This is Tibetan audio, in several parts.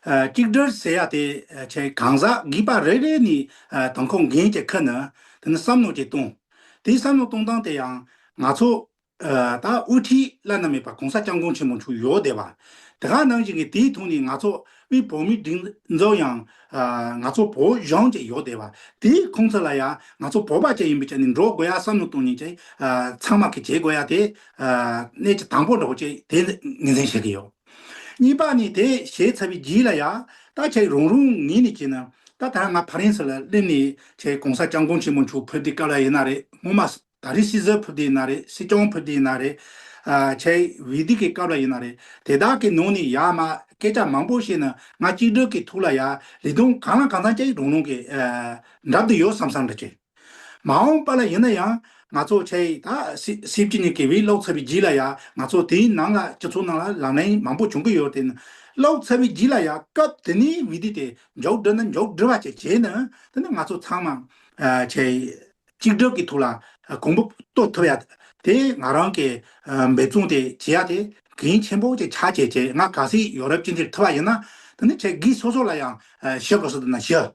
གཅིག་སྒྲིལ་ཟེར་ཡག་དེ་བྱས་གང་ཟག་གིས་པ་རེ་རེ་ནས་དང་ཁོ་འགན་གྱི་ཁུར་ནས་དེ་ནས་བསམ་བློ་གྱིས་གཏོང། དེ་བསམ་བློ་གཏོང་སྟངས་དེ་ཡང་ང་ཚོ། ད་དབུས་འཁྲིད་བླ་ན་མེད་པ་གོང་ས་སྐྱབས་མགོན་ཆེན་མོ་མཆོག་ཡོད་བསྡད་པ། དེ་ག་ནང་བཞིན་གྱི་དེའི་ཐུགས་ནས་ང་ཚོ་དབུས་བོད་མིའི་སྒྲིག་འཛོགས་ཡང། ང་ཚོ་བོད་གཞུང་བཅས་ཡོད་བསྡད་པ། དེ་ཁོང་ཚོ་ལ་ཡང་ང་ཚོ་བོད་པ་བཅས་ཡིན་པའི་ཆ་ནས་འགྲོ་དགོས་ཡ་བསམ་བློ་གཏོང་ཉེན་བཅས་ཚང་མ་གིས་བྱེད་དགོས་ཡ་དེ་གནད་ཀྱི་དང་པོ་འགྲོ་བ་བཅས་དེ་ངེས་ཟིན་བྱེད་ཀྱི་ཡོད། གཉིས་པ་ནི་དེ་ཞེས་ཚ་བའི་རྒྱུད་ལ་ཡང་ད་ཁྱེད་རང་རུང་ངེས་ནས་ཁྱེད་ནི་ད་ད་ང་ཕ་རན་ས་ལ་སླེབས་ནས་ཁྱེད་གོང་ས་སྐྱབས་མགོན་ཆེན་མོ་མཆོག་ཕུད་དེ་སྐབས་ལ་ཡིན་ན་རེད་སྔོན་མ་ད་རི་སྲི་ཟིར་ཕུད་དེ་ཡིན་ན་རེད་སྲི་སྐྱོང་ཕུད་དེ་ཡིན་ན་རེད་ཁྱེད་བི་དི་ཀའི་སྐབས་ལ་ཡིན་ན་རེད་དེ་དག་གི་ནང་ནས་ཡག་མ་སྐད་ཆ་མང་པོ་བཤད་ནས་ང་གཅིག་སྒྲིལ་གྱི་ཐུགས་ལ་ཡག་ལི་ཐུང་གང་ལ་གང་འཚམ་ཁྱེད་རང་རུང་གི་འགྲམ་དུ་ཡོད་བསམ་བསམ་འདྲ་ཁྱེད། མ་འོངས་པ་ལ་ཡིན་ན་ཡང་ང་ཚོ་ཆ་ཡིས་ད་སྲིད་བཅུ་གཉིས་ཀྱི་བེད་ལོག་ཚ་བའི་རྗེས་ལ་ཡང་ང་ཚོ་དེའི་ནང་ལ་སྤྱི་ཚོགས་ནང་ལ་ལག་ལེན་མང་པོ་བྱུང་གི་ཡོད་དེ། ལོག་ཚ་བའི་རྗེས་ལ་ཡང་སྐབས་དེ་ནས་བེད་སྡུས་དེ་མགྱོགས་འགྲོས་ནས་མགྱོགས་འགྲོས་བ་བཅས་བྱས་ནས་དེ་ནི་ང་ཚོ་ཚང་མ་ཆ་ཡིས་གཅིག་སྒྲིལ་གྱི་ཐོག་ལ་གོང་བུ་གཏོད་ཐུབ་ཡ་དེ་ང་རང་གིས་འབད་བརྩོན་དེ་བྱེད་ཡ་དེ་གལ་ཆེན་པོ་ཅིག་ཆགས་ཆེ་ཆེ་ང་ག་སྲིད་ཡོ་རབ་སྤྱི་འཐུས་ཐུབ་བ་ཡིན་ན་དེ་ནི་ཆ་སྒིས་སོ་སོ་ལ་ཡང་ཤི་བ་སོགས་ན་ཤི།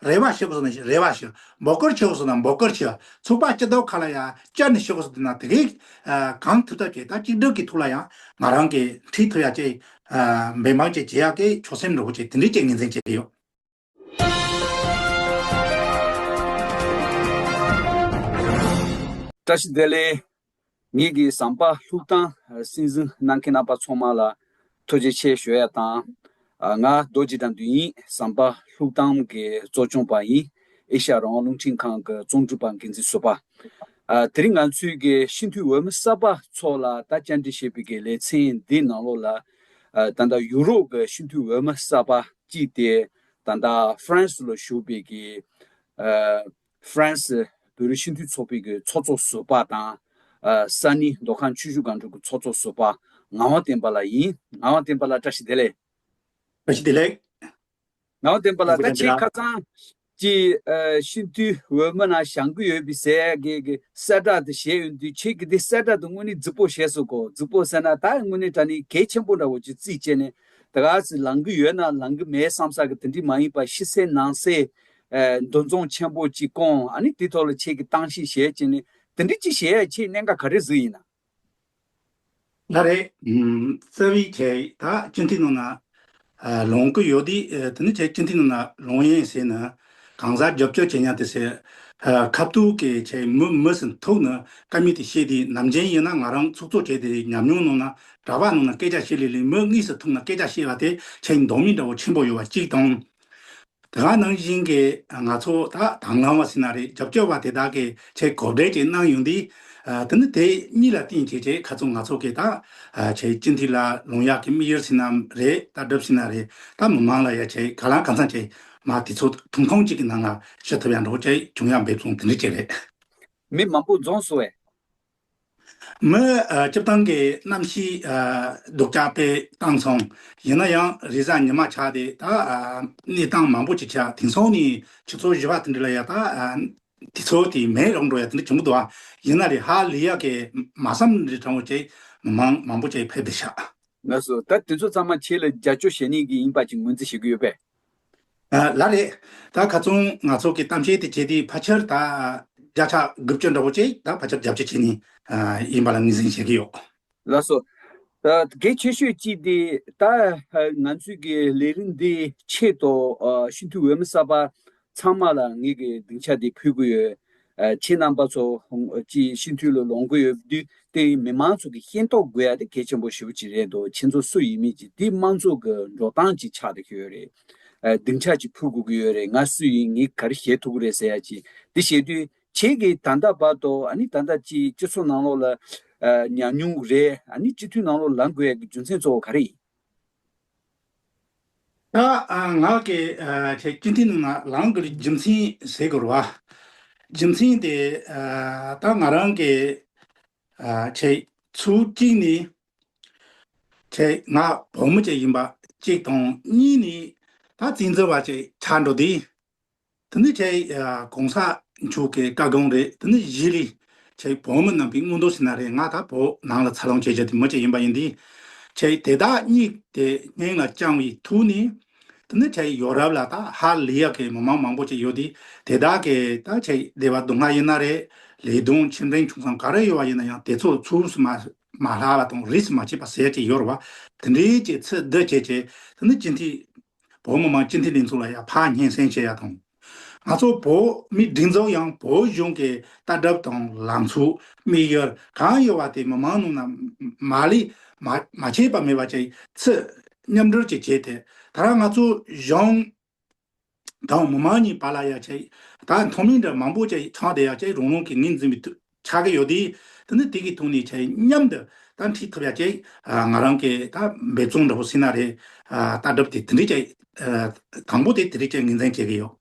རེ་བ་ཤི་བ་སོགས་ན་རེ་བ་ཤི། འབོ་སྐོར་ཆེ་བ་སོགས་ན་འབོ་སྐོར་ཆེ། ཚུགས་པ་ལྕི་དོག་ཁ་ལ་ཡང་ལྕི་ནི་ཤི་བ་སོགས་ན་དེ་གའི། གང་ཐུབ་ཐབས་བྱས་ད་གཅིག་སྒྲིལ་གྱི་ཐུགས་ལ་ཡང། ང་རང་གིས་འཁྲིད་ཐུབ་ཡ་ཅེས། འབད་འབངས་བཅས་བྱེད་ཡ་གི་ཆོག་སེམས་འགྲོ་བོ་བཅས་དེ་འདྲའི་བཅས་ངེས་འཛིན་བྱེད་ཀྱི་ཡོད། བཀྲ་ཤིས་བདེ་ལེགས། ངེད་ཀྱི་ཟམ་པ་ལྷུག་ཐང་སྲིད་འཛིན་གནང་མཁན་རྣམ་པ་ཚོང་མང་ལ་ཐུགས་རྗེ་ཆེ་ཞུ་ཡ་དང། ང་རྡོ་རྗེ་དང་འདུན་ཡིན་ཟམ་པ་ལྷུག་ཐང་གི་གཙོ་སྐྱོང་པ་ཡིན་ཨེ་ཤ་རང་རླུང་འཕྲིན་ཁང་གི་རྩོམ་སྒྲུབ་པ་འགན་འཛིན་བཟོ་པ། དེ་རིང་ང་ཚོའི་གི་སྤྱི་འཐུས་འོས་མི་གསར་པ་ཚོ་ལ་ད་བཅར་འདྲི་བྱེད་པའི་གི་ལེ་ཚན་འདི་ནང་ལོགས་ལ། ད་ལྟ་ཡུ་རོབ་གི་སྤྱི་འཐུས་འོས་མི་གསར་པ་གཅིག་དེ་ད་ལྟ་ཧྥ་རན་སི་ལ་བཞུགས་པའི་གི། ཧྥ་རན་སི་བོད་རིགས་སྤྱི་མཐུན་ཚོགས་པའི་གི་ཚོགས་གཙོ་ཟུར་པ་དང། ས་ནི་མདོ་ཁམས་ཆུ་ཤུར་སྒང་དྲུག་གི་ཚོགས་གཙོ་ཟུར་པ་ངག་དབང་བསྟན་པ་ལགས་ཡིན། ངག་དབང་བསྟན་པ་ལགས་བཀྲ་ཤིས་བདེ་ལེགས། བཀྲ་ཤིས་བདེ་ལེགས། ངག་དབང་བསྟན་པ་ལགས་ད་ཁྱེད་ཁ་སང་གི་སྤྱི་མཐུས་འོས་མི་ན་བཞང་གི་ཡོད་པའི་ཟས་གི་གི་གསལ་བསྒྲགས་དེ་བཞེས་ཡོད་འདུག་ཁྱེད་ཀྱི་དེ་གསལ་བསྒྲགས་དེ་དངོས་ནི་རྫིག་པོ་བཞེས་སོ་གོ་རྫིག་པོ་ཟེར་ན་ད་དངོས་ནི་དྲ་ནི་གལ་ཆེན་པོ་འདྲ་བོ་ཅིག་རྩིས་བྱས་ནས་དེ་ག་ཟིག་ལང་གི་ཡོད་ན་ལང་གི་མེད་བསམ་ས་གི་དེ་འདྲི་མ་ཡིན་པ་ཤི་སེ་ནང་སེ་འདུ་འཛོམས་ཆེན་པོ་གཅིག་སྐོང་ཨ་ནི་དེ་ཐོག་ལ་ཆེད་ཀྱི་བཏང་གཤིས་གཞལ་བྱེད་ནི་དེ་འདྲི་གཅིག་གཞལ་ཡས་ཆེས་གནད་འགག་ག་རེ་ཟིག་ཡིན་ན། ན་རེ། རྩ་བའི་ཆེད་དག་སྤྱི་མཐུས་རྣམས་ལ་ལོངས་སྐུ་ཡོད་དུས་དེ་ནི་ཆེད་སྤྱི་མཐུས་རྣམས་ལ་ལོངས་ཡིན་ཟེར་ན་གང་ཟག་རྒྱབ་སྐྱོར་བྱེད་མྱངས་དེ་ཟེར། ཁ་བཏུག་གི་ཆེད་མི་མི་ཟིན་ཐུག་ནི་ཀ་མི་དེ་ཤེས་དུས་ནམ་རྒྱན་ཡིན་ན་ང་རང་ཚུགས་ཚུགས་བྱས་དེ་ཉམས་མྱོང་རྣོ་ན་གྲྭ་པ་རྣམས་ལ་སྐད་ཆ་བཤད་ལེ་ལེ་མི་གཉིས་སུ་ཐུག་ན་སྐད་ཆ་བཤད་བ་དེ་ཆེད་འདོགས་མི་འདྲ་བོ་ཆེན་པོ་ཡོད་པ་གཅིག་དང། དེ་ག་ནང་བཞིན་གྱི་ང་ཚོ་དག་དང་ལང་བ་སྲིད་ན་རེད་རྒྱབ་སྐྱོར་བ་དེ་དག་གི་ཆེད་གོ་བསྒྲེས་ཀྱིས་གནང་ཡོང་དུས། དེ་ནི་དེ་གཉིས་ལ་བརྟེན་བྱས་རྗེས་ག་ཚོད་ང་ཚོ་གི་དག་ཆའི་སྤྱི་འཐུས་ལ་ལུང་ཡག་གི་དམིགས་ཡུལ་སྲིད་ན་རེད་ལྟ་གྲུབ་སྲིད་ན་རེད་ད་མི་མང་ལ་ཡ་ཆེད་ག་ལང་ག་མཚང་ཆེད་མ་དེ་ཚོ་དུང་ཁང་གཅིག་གི་ནང་ལ་ཤི་ཐུབ་ཡ་འགྲོ་བ་ཅི་བྱུང་ཡ་འབེབས་སོང་དེ་འདྲི་བྱེད་རེད། མི་མང་པོ་རྫོང་སོ་བས། མི་བཅུ་བཏང་གི་གནམ་གཤིས་སྡུག་ཅག་པས་བཏང་སོང། ཡིན་ན་ཡང་རི་གཟར་ཉི་མ་ཆགས་ཏེ་ད་གནས་སྟངས་མང་པོ་ཅིག་ཆགས་དེང་སང་ནི་ཁྱེད་ཚོ་བཞི་བ་དེ་འདྲ་ལ་ཡག་ད་དེ་ཚོ་དེ་མེད་རོགས་འགྲོ་ཡག་དེ་འདྲ་བྱུང་གི་འདུག་ཡིན་ན་རི་ཧ་ལི་ཡག་གི་མ་བསམ་རི་གྲང་བོ་ཅིག་མི་མང་མང་པོ་ཅིག་ཕེབས་དེ་ཆགས། ངས་སུ་ད་དེ་ཚོ་ཚང་མ་ཁྱེད་ལ་རྒྱ་སྐྱོ་ཞེ་ནས་གི་ཡིན་པ་ཅིག་ངོས་འཛིན་བྱེད་གི་ཡོད་པས། ལ་རེད། ད་ག་ཙོང་ང་ཚོ་གི་གཏམ་བཤད་དེ་བྱས་དུས་ཕ་ཆར་ད་བརྒྱ་ཕྱག་དགུ་བཅུ་འདྲ་བོ་བཅས་ད་ཕ་ཆར་རྒྱབ་སྐྱོར་བྱེད་ངེས་ཡིན་པ་ལ་ངོས་ཟིན་བྱེད་ཀྱི་ཡོད། ལ་སོགས། གལ་ཆེ་ཤོས་གཅིག་དེ་ད་ང་ཚོས་ཀྱི་ལས་རིམ་འདིའི་ཆེད་དུ་ཤིན་ཏུ་འོས་མི་གསར་པ་ཚང་མ་ལ་ངེད་ཀྱི་སྡིངས་ཆ་དེ་ཕུལ་དགོས་ཡོད། ཁྱེད་རྣམ་པ་ཚོ་སྤྱི་ཤིང་འཐུས་ལ་ལོངས་སྐུ་ཡོད་དུས་དེ་མི་མང་ཚོ་གི་ཤེས་རྟོགས་དགོས་ཡ་དེ་གལ་ཆེན་པོ་ཞེ་པོ་ཅིག་རེད་འདུག་ཁྱེད་ཚོ་སུ་ཡིན་མིན་གྱི་དེ་དམངས་གཙོ་གི་འགྲོ་སྟངས་ཅིག་ཆགས་ཏེ་ཡོད་རེད་སྡིངས་ཆ་ཅིག་ཕུལ་དགོས་ཀྱི་ཡོད་རེད་ང་སུ་ཡིན་ངས་ག་རེ་བཞེས་ཐུབ་ཀྱི་རེད་ཟེར་ཡ་ཅིག་དེ་བཞེས་དུས་ཁྱེད་ཀྱི་ད་ལྟ་བར་དུ་ཨ་ནི་ད་ལྟ་སྤྱི་ཚོགས་ནང་ལོགས་ལ་ཉམས་མྱོང་རེད་ཨ་ནི་སྤྱི་འཐུས་ནང་ལོགས་ལ་ལངས་དགོས་ཡ་གི་རྒྱུ་མཚན་གཙོ་བོ་ག་རེ་ཡིན། ངག་གི་སྐྱོན་དེ་རྣམས་ལ་ལམ་གྱི་རྒྱུ་མཚན་བྱེད་དགོས་པ། རྒྱུ་མཚན་དེ་དག་ང་རང་གི་ཚུལ་གཅིག་ནི་ང་བུ་མོ་ཅིག་ཡིན་པ་གཅིག་དང་གཉིས་ནི་ད་བཙན་འཛུལ་བ་ཅིག་ཆགས་འགྲོ་དུས་དེ་ནི་ཆེས་གོང་ས་མཆོག་གི་བཀའ་དགོངས་རེད་དེ་ནི་གཞི་རིས་ཆེས་བོད་མི་རྣམས་ཀྱི་མངོན་རྟོགས་ཤིག་ན་རེད་ང་ད་བོད་ནང་ལ་ཚར་ལོངས་བྱེད་བྱེད་དེ་མི་གཅིག་ཡིན་པ་ཡིན་དེ་ཆེས་དེ་དག་གཉིས་དེ་སྙིང་ལ་བཅང་བའི་ཐུགས་ནི་དེ་ནི་ཆེས་ཡོ་རབ་ལ་ད་ཧ་ལི་ཡ་གི་མི་མང་མང་པོ་ཅིག་ཡོད་དེ་དེ་དག་གི་ད་ཆེས་བདེ་བ་སྡུག་བསྔལ་ཡིན་ན་རེད་ལས་དོན་ཆེ་འབྲིང་ཆུང་ཙམ་ག་རེ་ཡོད་པ་ཡིན་ན་ཡང་དེ་ཚོ་ཚུར་སུ་མ་མ་ལྷག་བ་དང་རིས་སུ་མ་ཆད་པ་ཟེར་གྱི་ཡོ་རོ་བ་དེ་འདྲའི་ཅིག་ཚེ་འདི་བྱེད་བྱེད་དེ་ནི་སྤྱི་འཐུས་བོད་མི་མང་སྤྱི་འཐུས་ལས་ཚོགས་ལ་ཡང་ཕག་སྙན་སེང་ཞུ་ཡ་དང། ང་ཚོ་བོད་མི་སྒྲིག་འཛུགས་ཡང་བོད་གཞུང་གི་ལྟ་གྲུབ་དང་ལམ་ཚུགས་དམིགས་ཡུལ་གང་ཡོད་པ་དེ་མི་མང་ནང་ན་མ་ལས་མ་བྱས་པ་མེད་པ་ཅིག་ཚུད་མཉམ་སྒྲུབ་ཅིག་བྱས་ཏེ་ད་རང་ང་ཚོ་གཞུང་དང་མི་མང་གཉིས་བར་ལ་ཡ་ཅིག་དང་མཐོ་མིང་འདྲ་མང་པོ་ཅིག་ཆགས་ཏེ་ཡ་ཅིག་རང་རང་གི་ངོས་འཛིན་པའི་ཆགས་ཀྱི་ཡོད། དེ་ནི་དེ་གིས་ཐུགས་ནས་ཆེ་སྙམ་དུ་ད་འཁྲིད་ཐུབ་ཡ་ཅེས་ང་རང་གིས་ད་འབད་བརྩོན་འདྲ་པོ་བྱས་ན་རེད། ལྟ་གྲུབ་དེ་དེ་འདྲའི་ཆེ། དང་པོ་དེ་དེ་འདྲའི་ཆེ་ངེས་འཛིན་བྱེད་ཀྱི་ཡོད།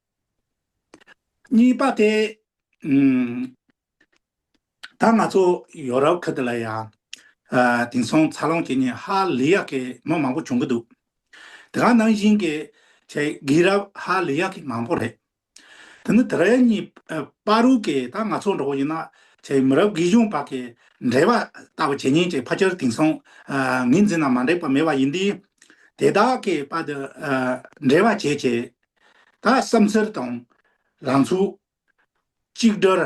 གཉིས་པ་དེ། ད་ང་ཚོ་ཡོ་རོབ་ཁུལ་དེ་ལ་ཡང། དེང་སང་འཚར་ལོངས་བྱེད་ཉིན་ཧ་ལི་ཡག་གི་མི་མང་པོ་བྱུང་གི་འདུག་དེ་ག་ནང་བཞིན་གྱི་ཆེ་དགེ་རབ་ཧ་ལི་ཡག་གི་མང་པོ་རེད། དེ་ནི་དེ་རིང་གཉིས་པ་རུ་ཀས་ད་ང་ཚོ་འགྲོ་བ་ཡིན་ན་ཆེས་མི་རབས་དགེ་གཞུང་བར་གྱི་འབྲེལ་བ་ལྟ་བུ་བྱེད་ཉེན་ཅིག་ཕ་ཁྱེར་དེང་སང་ངེད་འཛིན་ན་མ་འགྲིག་པ་མེད་པ་ཡིན་དུས། དེ་དག་གི་བར་དུ་འབྲེལ་བ་བྱེད་ཆེད་ད་བསམ་ཚུལ་དང། རང་ཚུགས། གཅིག་སྒྲིལ།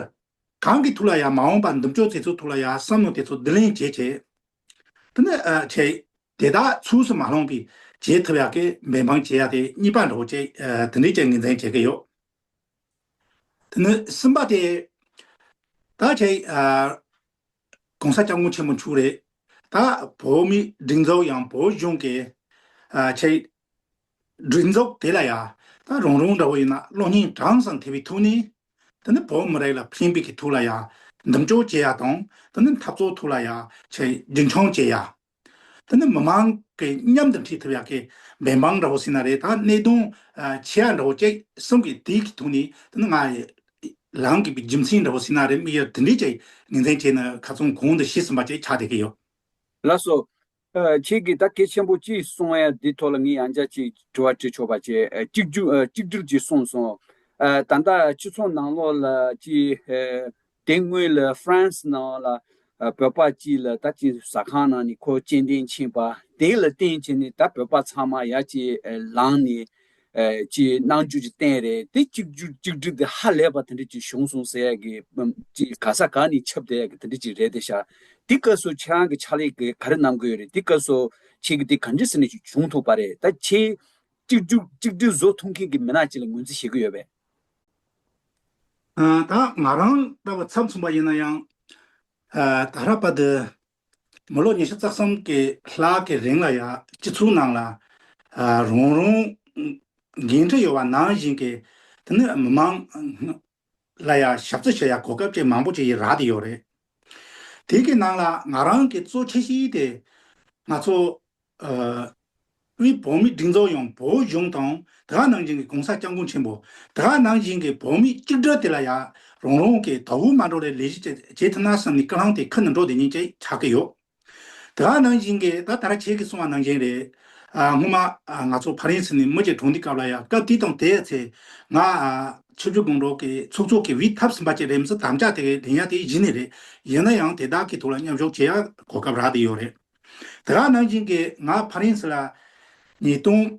གང་གི་ཐུགས་ལ་ཡང་མ་འོངས་པར་འདུམ་ཆོག་དེ་ཚོའི་ཐུགས་ལ་ཡང་བསམ་མནོ་དེ་ཚོ་བསྡུ་ལེན་བྱེད་ཆེད། དེ་ནི་ཆེས་དེ་དག་ཚུགས་སུ་མ་ལྷུང་པའི་བྱེད་ཐབས་ཡག་གི་འབད་འབངས་བྱེད་ཡག་དེ་གཉིས་པ་འགྲོ་བཅས་དེ་འདྲའི་ཅན་ངེས་འཛིན་བྱེད་ཀྱི་ཡོད། དེ་ནི་གསུམ་པ་སྟེ། ད་ཁྱེད ྋགོང་ས་སྐྱབས་མགོན་ཆེན་པོ་མཆོག་རེད། ད་བོད་མིའི་སྒྲིག་འཛུགས་ཡང་བོད་གཞུང་གི་ཁྱེད་སྒྲིག་འཛུགས་དེ་ལ་ཡང་ད་རང་རང་འདྲ་བོ་ཡིན་ན་བློ་སྙིང་དྲང་སང་དེ་བའི་ཐུགས་ནི། དེ་ནི་བོད་མི་རིགས་ལ་ཕན་པའི་གི་ཐུགས་ལ་ཡང་འདུམ་གཅོག་བྱེད་ཡག་དང་དེ་ནི་འཐབ་རྩོད་ཐུགས་ལ་ཡང་ཁྱེད་རྒྱུན་འཁྱོངས་བྱེད་ཡག། ད་ནི་མི་མང་གི་མཉམ་དུ་འཁྲིད་ཐུབ་ཡག་གི་བན་འབངས་འདྲ་བོ་སྲིད་ན་རེད་ད་སྣེ་གདོང་ཆེ་ཡག་འདྲ་བོ་སྐྱེ་གསུང་གི་དེའི་གི་ཐུགས་ནི་ད་ནི་ང་རང་གི་རྒྱུ་མཚན་འདྲ་བོ་སྲིད་ན་རེད་མིག་ཡར་དེ་འདྲས་ཀྱི་ངན་ཚན་བྱས་ན་ག་ཚོང་གོང་དུ་ཤི་ཟིན་པ་ཅིག་ཆགས་བསྡད་ཀྱི་ཡོད། ལགས་སོ། ཁྱེད་ཀྱིས་ད་སྐད་ཆེན་པོ་གཅིག་གསུང་ཡ་འདི་ཐོག་ལ་ངས་ཡང་བསྐྱར་ཅིག་དྲི་བ་དྲི་ཆོག་པ་ཅིག་གཅིག་གྱུར་གཅིག་གྱུར་གྱིས་གསུངས་སོང། ད་ལྟ་སྤྱི་ཚོགས་ནང་ལོགས་ལ་ཅིག་དེ་སྔོན་ལ France ནང་ལ་བོད་པ་གཅིག་ལ་ད་ཅིང་ཟ་ཁང་ནང་ནས་ཁོ་སྤྱན་འདྲེན་ཕྱིན་པ་དེ་ལ་བརྟེན་བྱས་ནས་ད་བོད་པ་ཚང་མ་ཡ་ཅིག་ལངས་ནས་ཅིག་གནང་རྒྱུ་ཅིག་བསྟན་རེད་དེ་གཅིག་གྱུར་གཅིག་སྒྲིལ་དེ་ཧ་ལས་པ་དེ་འདྲ་ཅིག་བྱུང་སོང་ཟེར་ཡ་གི་ཅིག་ག་ས་ག་ནས་ཁྱབ་བསྡད་ཡ་གི་དེ་འདྲ་ཅིག་རེད་དེ་ཤ་དེ་སྐབས་སུ་ཁྱེད་རང་གི་ཕྱག་ལས་གི་ག་རེ་གནང་དགོས་རེད་དེ་སྐབས་སུ་ཁྱེད་ཀྱི་དེ་ག་འདྲི་ཟེར་ནས་ཅིག་བྱུང་ཐུབ་པ་རེད་ད་ཁྱེད་གཅིག་གྱུར་གཅིག་སྒྲིལ་བཟོ་ཐུབ་མཁན་གྱི་མི་ནག་ཅིག་ལ་ངོས་འཛིན་བྱེད་གི་ཡོད་པས། ད་ང་རང་ལྟ་བུ་ཚབ་མཚུངས་པ་ཡིན་ན་ཡང། ད་རག་པ་འདི་མི་ལོ་ཉི་ཤུ་རྩ་གསུམ་གྱི་ལྷག་གི་རིང་ལ་ཡང་སྤྱི་ཚོགས་ནང་ལ་རང་རང་འགན་འཁྲི་ཡོད་པ་ནང་བཞིན་གྱི་དེ་ནས་མི་མང་ལ་ཡང་ཞབས་རྩི་བྱེད་ཡ་གོ་སྐབས་ཅིག་མང་པོ་ཅིག་ཡི་རག་དེ་ཡོད་རེད། དེ་གི་ནང་ལ་ང་རང་གི་གཙོ་ཆེ་ཤེས་དེ། ང་ཚོ། དབུས་བོད་མི་སྒྲིག་འཛོགས་ཡང་བོད་གཞུང་དང་དེ་ག་ནང་བཞིན་གི་གོང་ས་སྐྱབས་མགོན་ཆེན་པོ། དེ་ག་ནང་བཞིན་གི་བོད་མི་གཅིག་སྒྲིལ་དེ་ལ་ཡ། རང་རང་གི་དྭོགས་མ་འགྲོ་རེ་ལས་གཞི་བྱེད་ཐུབ་ན་བསམ་ནས་སྐ་རང་དེ་ཁུར་ནས་འགྲོ་དེ་ཉིད་ཅེས་བྱ་གི་ཡོད། དེ་ག་ནང་བཞིན་གྱི་ད་ལྟར་ཁྱེད་ཀྱིས་གསུང་བ་ནང་བཞིན་རེད། སྔོན་མ་ང་ཚོ་ཕ་རན་སི་ནས་མི་རྗེ་གྲོང་འདི་སྐབས་ལ་ཡང་སྐབས་དེ་དང་དེའི་ཚེ། ང། ཆོས་རྒྱུད་དགོང་དྲོ་གི་ཚོགས་གཙོ་གི་བིས་ཐབས་ཟིན་པ་ཅིག་རེམ་ས་དམ་བཅའ་དེ་གའི་དྲན་ཡ་དེ་གཞི་ནས་རེད། ཡིན་ན་ཡང་དེ་དག་གི་ཐུགས་ལ་མཉམ་ཞོག་བྱེད་ཡ་གོ་སྐབས་རག་དེ་ཡོད་རེད། དེ་ག་ནང་བཞིན་གྱི་ང་ཕ་རན་སི་ལ། ཉིས་སྟོང།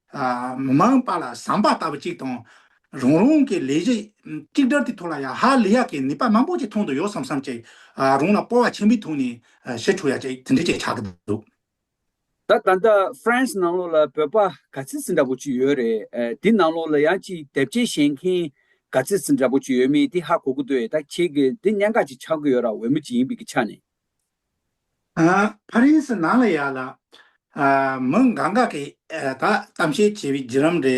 མི་མང་པ་ལ་བཟང་པ་ལྟ་བུ་གཅིག་དང། རང་རང་གི་ལས་གཞི་གཅིག་སྒྲིལ་དུ་ཐུག་ལ་ཡང་ཧ་ལི་ཡག་གི་ནུས་པ་མང་པོ་ཅིག་ཐོན་དུ་ཡོད་བསམ་བསམ་ཅིག་རང་ལ་སྤོ་བ་ཆེན་པོའི་ཐོག་ནས་ཞི་འཕྲོག་ཡག་ཅིག་དེ་འདྲ་ཅིག་ཆགས་ཀྱི་འདུག། ད་ད་ལྟ France ནང་ལོགས་ལ་བོད་པ་ག་ཚིག་ཟིན་འདྲ་པོ་ཅིག་ཡོད་རེད་དེ་ནང་ལོགས་ལ་ཡང་ཅིག་དེབ་སྐྱེལ་བཞེས་མཁན་ག་ཚིག་ཟིན་འདྲ་པོ་ཅིག་ཡོད་མེད་དེ་ཧ་གོ་གི་འདུག་ཨེ་ད་ཁྱེད་ཀྱི་འདི་གནད་འགག་ཅིག་ཆགས་ཀྱི་ཡོད་ར་འོས་མོ་ཅིག་ཡིན་པའི་ཆ་ནས། ཕ་རན་སི་ནང་ལ་ཡག་ལ། མི་འགའ་འགའ་གིས་ད་གཏམ་བཤད་བྱས་པའི་བརྒྱུད་རམ་རེད། དེ་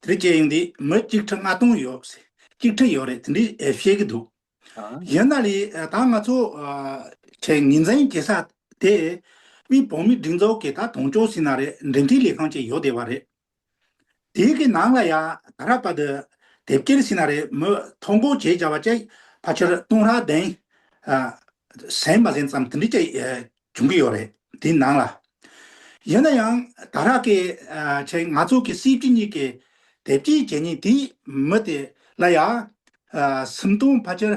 རིགས་བྱས་ཡོང་དུས་མི་གཅིག་ཁྲི་ལྔ་སྟོང་ཡོད། གཅིག་ཁྲི་ཡོད་རེད་དེ་འདྲས་བཤད་གི་འདུག། ཡིན་ན་ལི་ད་ང་ཚོ་ཆེས་ངེས་འཛིན་བྱེད་ས་དེ། དབུས་བོད་མིའི་སྒྲིག་འཛོགས་ཀྱིས་ད་དོང་ཅོ་སི་ན་རེད་འབྲེལ་མཐུད་ལས་ཁང་ཅིག་ཡོད་བསྡད་པ་རེད། དེའི་གི་ནང་ལ་ཡང་ད་རག་པ་དུ་དེབ་སྐྱེལ་ཤི་ན་རེ་མོ་ཐོ་འགོ་བྱེད་བྱ་བ་བཅས་ཕ་ཆོར་ཏུང་རག་གདན། ཟན་མ་ཟན་ཙམ་དུ་འདྲི་བཅས་བྱུང་གི་ཡོད་རེད་དེའི་ནང་ལ། ཡིན་ན་ཡང་ད་རག་གི་ཆེད་ང་ཚོ་གི་སྲིད་སྤྱི་གཉིས་ཀྱི་དེབ་སྐྱེལ་བྱེད་ཉིན་དེའི་མི་དེ་ལ་ཡང། སུམ་སྟོང་ཕ་ཆོར་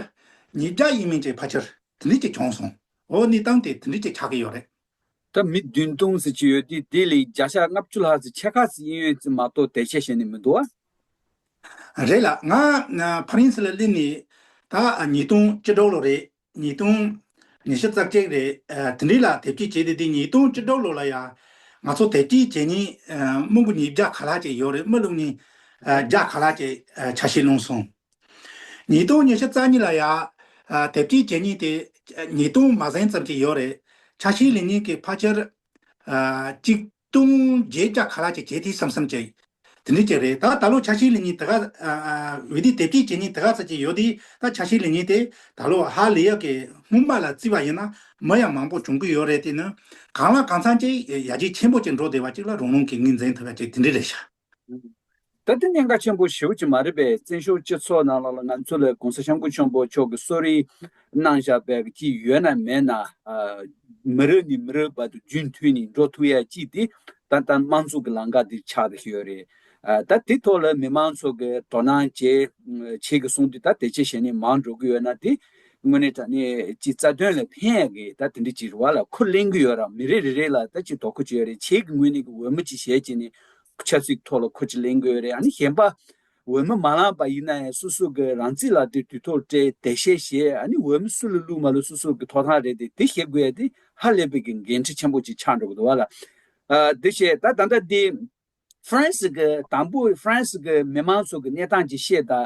ཉིས་བརྒྱ་ཡིན་མིན་བཅས་ཕ་ཆོར་དུ་འདྲི་བཅས་བྱུང་སོང་འོ་ནི་སྟངས་དེ་དུ་འདྲི་བཅས་ཆགས་ཀྱི་ཡོད་རེད། ད་མི་བདུན་སྟོང་ཟེར་གྱི་ཡོད་དུས་དེ་ལས་བརྒྱ་ཆ་ལྔ་བཅུ་ལྷག་ཟེར་ཆེ་ཁག་ཟེར་གྱི་ཡོད་ཚེ་མ་གཏོགས་དེ་ཆེ་ཞེ་ནས་མི་འདུག་ཨ། རེད་ལགས་ང་ཕ་རིན་སི་ལ་གླིང་ནས་ད་ཉིས་སྟོང་བཅུ་དྲུག་ལོ་རེད་ཉིས་སྟོང་ཉི་ཤུ་རྩ་བརྒྱད་རེད་དེ་འདྲི་ལ་དེབ་སྐྱེལ་བྱས་དེ་དེ་ཉིས་སྟོང་བཅུ་དྲུག་ལོ་ལ་ཡང་ང་ཚོ་དེབ་སྐྱེལ་བྱས་ཉིན་རྨོ་འབུ་ཉིས་བརྒྱ་ག་ལྷག་ཅིག་ཡོད་རེད་རྨོ་ལུག་ཉིས་བརྒྱ་ག་ལྷག་ཅིག་བྱ་ཞེས་གླུངས་སོང། ཉིས་སྟོང་ཉེར་བཞི་རྩ་གཉིས་ལ་ཡང། དེབ་སྐྱེལ་བྱེད་སྙིང་དེ། ཉིས་སྟོང་མ་ཟིན་ཙམ་གྱི་ཡོད་རེད། ཆ་ཤས་ལེ་ཉིན་གྱི་ཕ་ཆེར། གཅིག། ལྟུང་བརྗེད་བཅའ་ག་ལ་ཅིག་བྱེད་དེ་སམ་སམ་བྱས། དེ་འདྲས་ཅིག་རེད་ད། ད་ལོ་ཆ་ཤས་ལེ་ཉིན་དེ་ག། བི་དེ་དེབ་སྐྱེལ་བྱེད་སྙིང་དེ་ག་ཚ་གྱི་ཡོད་དེ། ད་ཆ་ཤས་ལེ་ཉིན་དེ། ད་ལོ་ཧ་ལི་ཡག་གི་སྔོན་དཔག་ལ་བརྩི་བ་ཡིན་ན། མི་ཡང་མང་པོ་བྱུང་གི་ཡོད་རེད་དེ། གང་ལ་གང་འཚམ་གྱིས་ཡ་གྱལ་ཆེན་པོ་ཅིག་འགྲོ་བདེ་བ་ཅིག་ལ་རང་རང་གི་དངུལ་འཛིན་ཐུབ་ཡ་གཅིག་དེ་འདྲས་རེད་ཤག། ད་ལྟ་ཉེན་ཁ་ཆེན་པོ་ཞེ་བོ་ཅིག་མ་རེད་པས་བཙན་བྱོལ་སྤྱི་ཚོགས་ནང་ལ་ལ་ང་ཚོ་ལ་གོང་ས་ཤམ་པོ་ཆེན་པོ་མཆོག་གི་གསོ་རིག་གནང་བཞག་པའི་ཅི་ཡོད་ན་མེད་ན་མི་རེ་ནས་མི་རེ་བར་དུ་རྒྱུན་མཐུད་ནས་འགྲོ་ཐུབ་ཡ་ཅི་དེ་ད་ལྟ་དམངས་གཙོ་གི་ལང་ཀ་འདིར་ཆགས་ཀྱི་ཡོད་རེད་ད་དེ་ཐོག་ལ་མི་མང་ཚོ་གི་དོ་སྣང་བྱེད་བྱེད་ཀྱི་སོང་དུས་ད་དེ་ཆེ་ཞེ་ནས་མང་འགྲོ་གི་ཡོད་ན་དེ་དངོས་གནས་དྲ་གནས་ཀྱི་རྩ་དོན་ལ་ཕན་ཡ་གི་ད་དེ་འདྲ་ཅིག་རེ་བ་ལ་ཁུར་གླེང་གི་ཡོད་རང་མི་རེ་རེ་རེ་ལ་ད་ཅིག་དོ་ཁུར་བྱེད་ཡ་རེ་བྱེད་ཀྱི་དངོས་གནས་ཀྱི་འོས་མོ་ཅིག་བྱེད་ཅེ་ནས་ཆབ་སྲིད་ཐོག་ལ་ཁུ་ཅི་ལེན་དགོས་རེད་ཨ་ནི་གཞན་པ་འོས་མི་མ་ལངས་པ་ཡིན་ན་ཡང་སུ་སུ་གི་རང་རྩིས་ལ་དེ་དུས་ཐོག་སྤྲད་དེ་ཤེས་ཤེས་ཨ་ནི་འོས་མི་སུ་ལ་བླུག་མ་བླུག་སུ་སུ་གི་ཐོག་ཐང་རེད་དེ་དེ་ཤེས་དགོས་ཡ་དེ་ཧ་ལས་པའི་གི་འགན་འཁྲི་ཆེན་པོ་ཅིག་ཆགས་འགྲོ་གི་འདུག་བ་ལ་དེ་ཤེས་ད་ད་ལྟ་དེ་ཧྥ་རན་སི་གི་དང་པོ་ཧྥ་རན་སི་གི་མི་མང་ཚོ་གི་གནས་སྟངས་ཅིག་ཤེས་ད་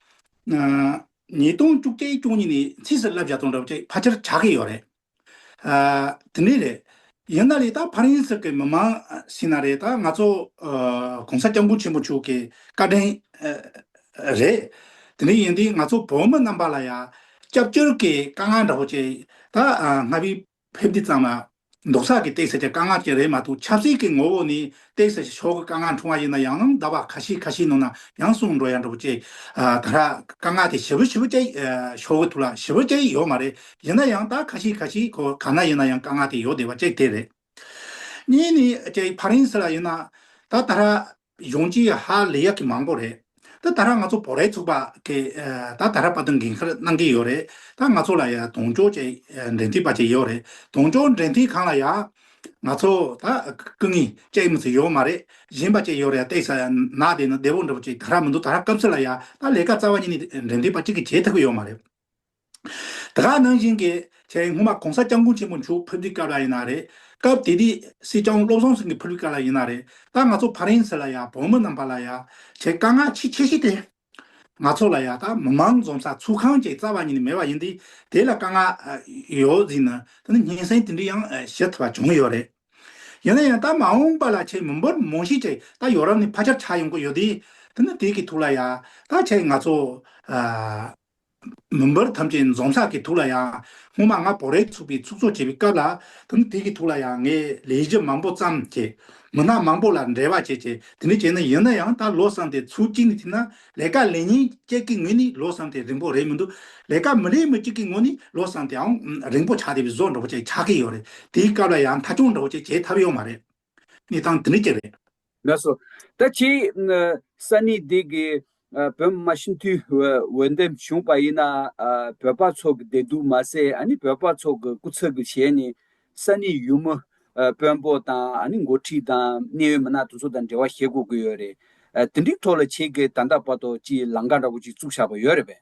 ཉིས་སྟོང་བཅུ་གཅིག་སྐྱོང་གཉིས་ནས་ཚིག་གསལ་བསླབ་བྱ་སྟོང་དྲུག་བཅས་ཕར་ཆེར་ཆགས་ཀྱི་ཡོད་རེད། དེ་འདྲས་རེད། ཡིན་ན་རེད་ད་ཕར་ཡིན་ཟེར་གི་མི་མང་ཞིག་ན་རེད་ད་ང་ཚོ ྋགོང་ས ྋསྐྱབས་མགོན་ཆེན་པོ་མཆོག་གི་བཀའ་དྲིན་རེད། དེ་འདྲས་ཡིན་དུས་ང་ཚོ་བོད་མི་རྣམས་པ་ལ་ཡང་སྐྱབས་བཅོལ་གྱི་དཀའ་ངལ་འདྲ་བོ་བཅས་ད་ང་བིས་ཕེབས་དུས་ཙམ་ལ། འདོགས་ཆགས་ཀྱི་སྟེགས་བྱ་བྱ་དཀའ་ངལ་ཅན་རེད་མ་གཏོགས་ཆབ་སྲིད་ཀྱི་ངོ་བོ་ནི་སྟེགས་བྱ་བྱ་ཕྱོགས་ཀྱི་དཀའ་ངལ་འཁྲུངས་བ་ཡིན་ན་ཡང་ནམ་ཟླ་བ་ཁ་ཤས་ཁ་ཤས་ནང་ན་ཡང་བསྲུང་འགྲོ་ཡག་འགྲོ་བོ་ཅེས། ད་ར་དཀའ་ངལ་དེ་ཞི་བོ་ཞི་བོ་ཅེ་ཡིས་ཕྱོགས་ཀྱི་ཐུགས་ལ་ཞི་བོ་ཅེ་ཡིས་ཡོད་མ་རེད་ཡིན་ན་ཡང་ད་ཁ་ཤས་ཁ་ཤས་ཁོ་ག་ན་ཡིན་ན་ཡང་དཀའ་ངལ་དེ་ཡོད་བསྡད་པ་གཅིག་དེ་རེད། གཉིས་ནི་ཅེ་ཡིས་ཕ་རན་སི་ལ་ཡིན་ན་ད་ད་ར་གཞུང་གཅིག་ཧ་ལས་ཡག་གི་མང་པོ་རེད་ད་ད་ར་ང་ཚོ་བོད་རའི་ཚོགས་པ་གི་ད་ད་ར་པ་དང་འགན་ཁར་གནང་གི་ཡོད་རེད་ད་ང་ཚོ་ལ་ཡང་དོང་ཅོག་ཅེས་འབྲེལ་མཐུད་པ་ཅིག་ཡོད་རེད་དོང་ཅོག་འབྲེལ་མཐུད་ཁང་ལ་ཡང་ང་ཚོ་ད་སྐུ་ངལ་ཅེས་མི་ཚེ་ཡོད་མ་རེད་གཞན་པ་ཅིག་ཡོད་རེད་བལྟས་ས་ན་དེ་ནི་བདེ་བོ་འདྲ་པོ་ཅིག་ད་ར་མི་འདུག་ད་ར་སྐབས་སུ་ལ་ཡང་ད་ལས་ཀ་རྩ་བ་ཉིད་ནས་འབྲེལ་མཐུད་པ་གཅིག་གིས་བྱེད་ཐུབ་གི་ཡོད་མ་རེད། དེ་ག་ནང་བཞིན་གྱི་ཆེད་སྔོན་མ་གོང་ས་སྐྱབས་མགོན་ཆེན་པོ་མཆོག་ཕུར་བུའི་སྐབས་ལ་ཡིན་ན་རེད། སྐབས་དེ་དུས་སྲིད་སྐྱོང་བློ་བཟང་སེང་གེ་ཕུར་བུའི་སྐབས་ལ་ཡིན་ན་རེད། ད་ང་ཚོ་ཕ་རན་སི་ལ་ཡང་བོད་མི་རྣམས་པ་ལ་ཡང་ཆེད་དཀའ་ངལ་ཆེས་ཆེ་ཤོས་དེ། ང་ཚོ་ལ་ཡང་ད་མི་མང་འཛོམས་ས་ཚུགས་ཁང་ཅིག་རྩ་བ་ཉིད་ནས་མེད་པ་ཡིན་དུས་དེ་ལ་དཀའ་ངལ་ཡོད་ཟིན་ན་ད་ནི་སྙན་སེང་དེ་འདྲི་ཡང་བྱེད་ཐུབ་པ་བྱུང་ཡོད་རེད། ཡིན་ན་ཡང་ད་མ་འོངས་པ་ལ་ཆེད་མི་འབོར་མང་ཤོས་ཅིག་ད་ཡོ་རབ་ནས་ཕ་ཆེར་ཆགས་ཡོང་གི་ཡོད་དུས་དེ་ནི་དེ་གི་ཐུགས་ལ་ཡང་ད་ཆེད་ང་ཚོ། མུན་པར་ཐམས་ཅད་འཛོམ་ས་ཀྱི་ཐུགས་ལ་ཡང། སྔོན་མ་ང་བོ་རེག་ཚུགས་པའི་ཚུགས་གཙོ་བྱས་པའི་སྐབས་ལ། དེང་དུས་ཀྱི་ཐུགས་ལ་ཡང་ངས་ལས་གཞི་མང་པོ་བརྩམས་བྱས། མི་སྣ་མང་པོ་ལ་འབྲེལ་བ་བྱས་བྱས་དེ་འདྲ་བྱས་ན་ཡིན་ན་ཡང་ད་ལོ་བསམ་སྟེ་ཚུར་གཅིག་ནས་ཐིམ་ན་ལས་ཀ་ལས་ཉིན་གཅིག་གི་ངོས་ནས་ལོ་བསམ་སྟེ་རིང་པོ་རེད་མི་འདུག་ལས་ཀ་མི་ལས་མི་གཅིག་གི་ངོས་ནས་ལོ་བསམ་སྟེའང་རིང་པོ་ཆགས་བསྡད་པའི་བཟོ་འདྲ་པོ་བྱས་ཆགས་ཀྱི་ཡོད་རེད་དེའི་སྐབས་ལ་ཡང་ཐ་ཆུང་འདྲ་པོ་བྱས་བྱས་ཐབས་ཡོད་མ་རེད། གནས་སྟངས་འདི་འདྲ་རྒྱབ་རེད། ལགས་སོ། ད་ཁྱེད་གསར་གནས་འདི་གི་བོད་མི་མ་ཤི་འཐུས་འོས་འདེམས་བྱུང་པ་ཡིན་ན་བོད་པ་ཚོ་གི་བདེ་སྡུག་མ་ཟད་ཨ་ནི་བོད་པ་ཚོ་གི་སྐུ་ཚབ་གི་ཞལ་ནས་གསར་གནས་ཡུལ་མི་དཔོན་པོ་དང་ཨ་ནི་འགོ་ཁྲིད་དང་གནད་ཡོད་མི་སྣ་དེ་ཚོ་དང་འབྲེལ་བ་བྱེད་དགོས་ཀི་ཡོད་རེད། དེ་འདྲིའི་ཐོག་ལ་ཁྱེད་གི་ད་ལྟ་བར་དུ་ཅི་ལང་ཀ་འདྲ་པོ་ཅིག་བཙུགས་བཞག་པ་ཡོད་རེད་པས།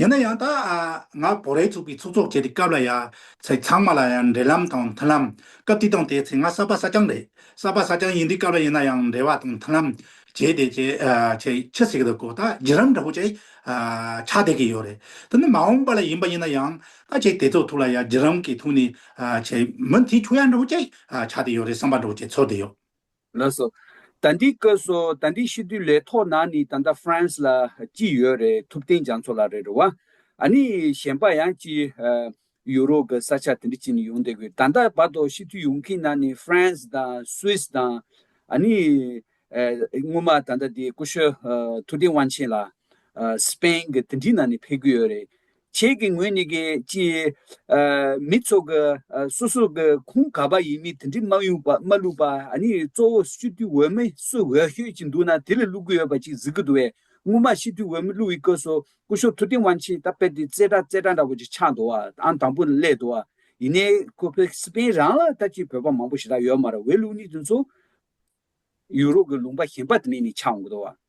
ཡིན་ན་ཡང་ད་ང་བོད་རེ་ཚུགས་པའི་ཚོགས་གཙོ་བྱས་པའི་སྐབས་ལ་ཡ་ཚ་ཚང་མ་ལ་ཡང་འབྲེལ་ལམ་དང་མཐུན་ལམ་སྐབས་དེ་དང་དེའི་ཚེ་ང་གསར་པ་ས་སྐྱང་རེད་གསར་པ་ས་སྐྱང་ཡིན་དུས་སྐབས་ལ་ཡིན་ན་ཡང་འབྲེལ་བ་དང་མཐུན་ལམ་བྱས་ཏེ་བྱས་ཆི་ཟེར་གི་འདུག་གོ་ད་བརྒྱུད་རམ་འདྲ་བོ་བྱས་ཆགས་བསྡད་ཀྱི་ཡོད་རེད་དེ་ནི་མ་འོངས་པ་ལ་ཡིན་པ་ཡིན་ན་ཡང་ད་བྱས་དེ་ཚོ་ཐུགས་ལ་ཡ་བརྒྱུད་རམ་གྱི་ཐུགས་ནས་བྱས་མི་དེ་ཆོས་ཡ་འདྲ་བོ་བྱས་ཆགས་བསྡད་ཡོད་རེད་བསམ་པ་འདྲ་བོ་བྱས་ཚོར་བསྡད་ཡོད། ལགས་སོ། ད་འདི་བཀོད་སོ་ད་འདི་ཤི་དུས་ལས་ཐོག་ན་ནི་ད་ལྟ France ལ་ཅི་ཡོད་རེད་ཐུབ་བསྟན་རྒྱ་མཚོ་ལགས་རེད་རེད་བ། ཨ་ནི་གཞན་པ་ཡང་ཅི Europe གི་ས་ཆ་དེ་འདྲི་ཅི་ནི་ཡོང་བསྡད་དགོས་ད་ལྟ་བར་དོ་ཤི་དུས་ཡོང་གིན་ན་ནི France དང Swiss དང་ཨ་ནི་སྔོན་མ་ད་ལྟ་འདི་ཀུ་ཤོ་ཐུབ་བསྟན་དབང་ཆེན་ལགས Spain གི་དེ་འདྲི་ན་ནི་ཕེབས་གི་ཡོད་རེད་ཁྱེད་ཀྱི་ངོས་ནས་ཀྱི་ཅི། མི་ཚོགས་ཀྱི་སོ་སོ་ཀྱི་ཁུངས་ག་པ་ཡིན་མིན་དེ་འདྲི་མ་ཡོང་པ་མ་ལུས་པ་ནི་གཙོ་བོ་སྤྱི་འཐུས་འོས་མི་སུ་འོས་ཤོད་ཅིག་འདུག་ན་དེ་ལས་བླུག་གི་ཡོད་པ་ཅིག་གཟིགས་ཀྱི་འདུག་བས་སྔོན་མ་སྤྱི་འཐུས་འོས་མི་བླུག་ཡི་སྐོས་སུ་སྐུ་ཞོགས་ཐུབ་བསྟན་དབང་ཆེན་ད་དཔེ་དེ་རྩེ་གྲ་རྩེ་གྲ་འདྲ་བོ་ཅིག་ཆགས་འདུག་བ་ཨང་དང་པོ་ནས་སླེབས་འདུག་བ་ཡིན་ནའི་ཁོ་བྷེ་སི་པན་རང་ལ་ལྟ་ཅི་བོད་པ་མང་པོ་ཞེ་དྲག་ཡོད་མ་རེད་བས་ལུགས་ནི་དེ་ཚོ་ཡུ་རོབ་ཀྱི་ལུང་པ་གཞན་པ་དེ་ནས་ནི་ཆགས་འོང་གི་འདུག་བ།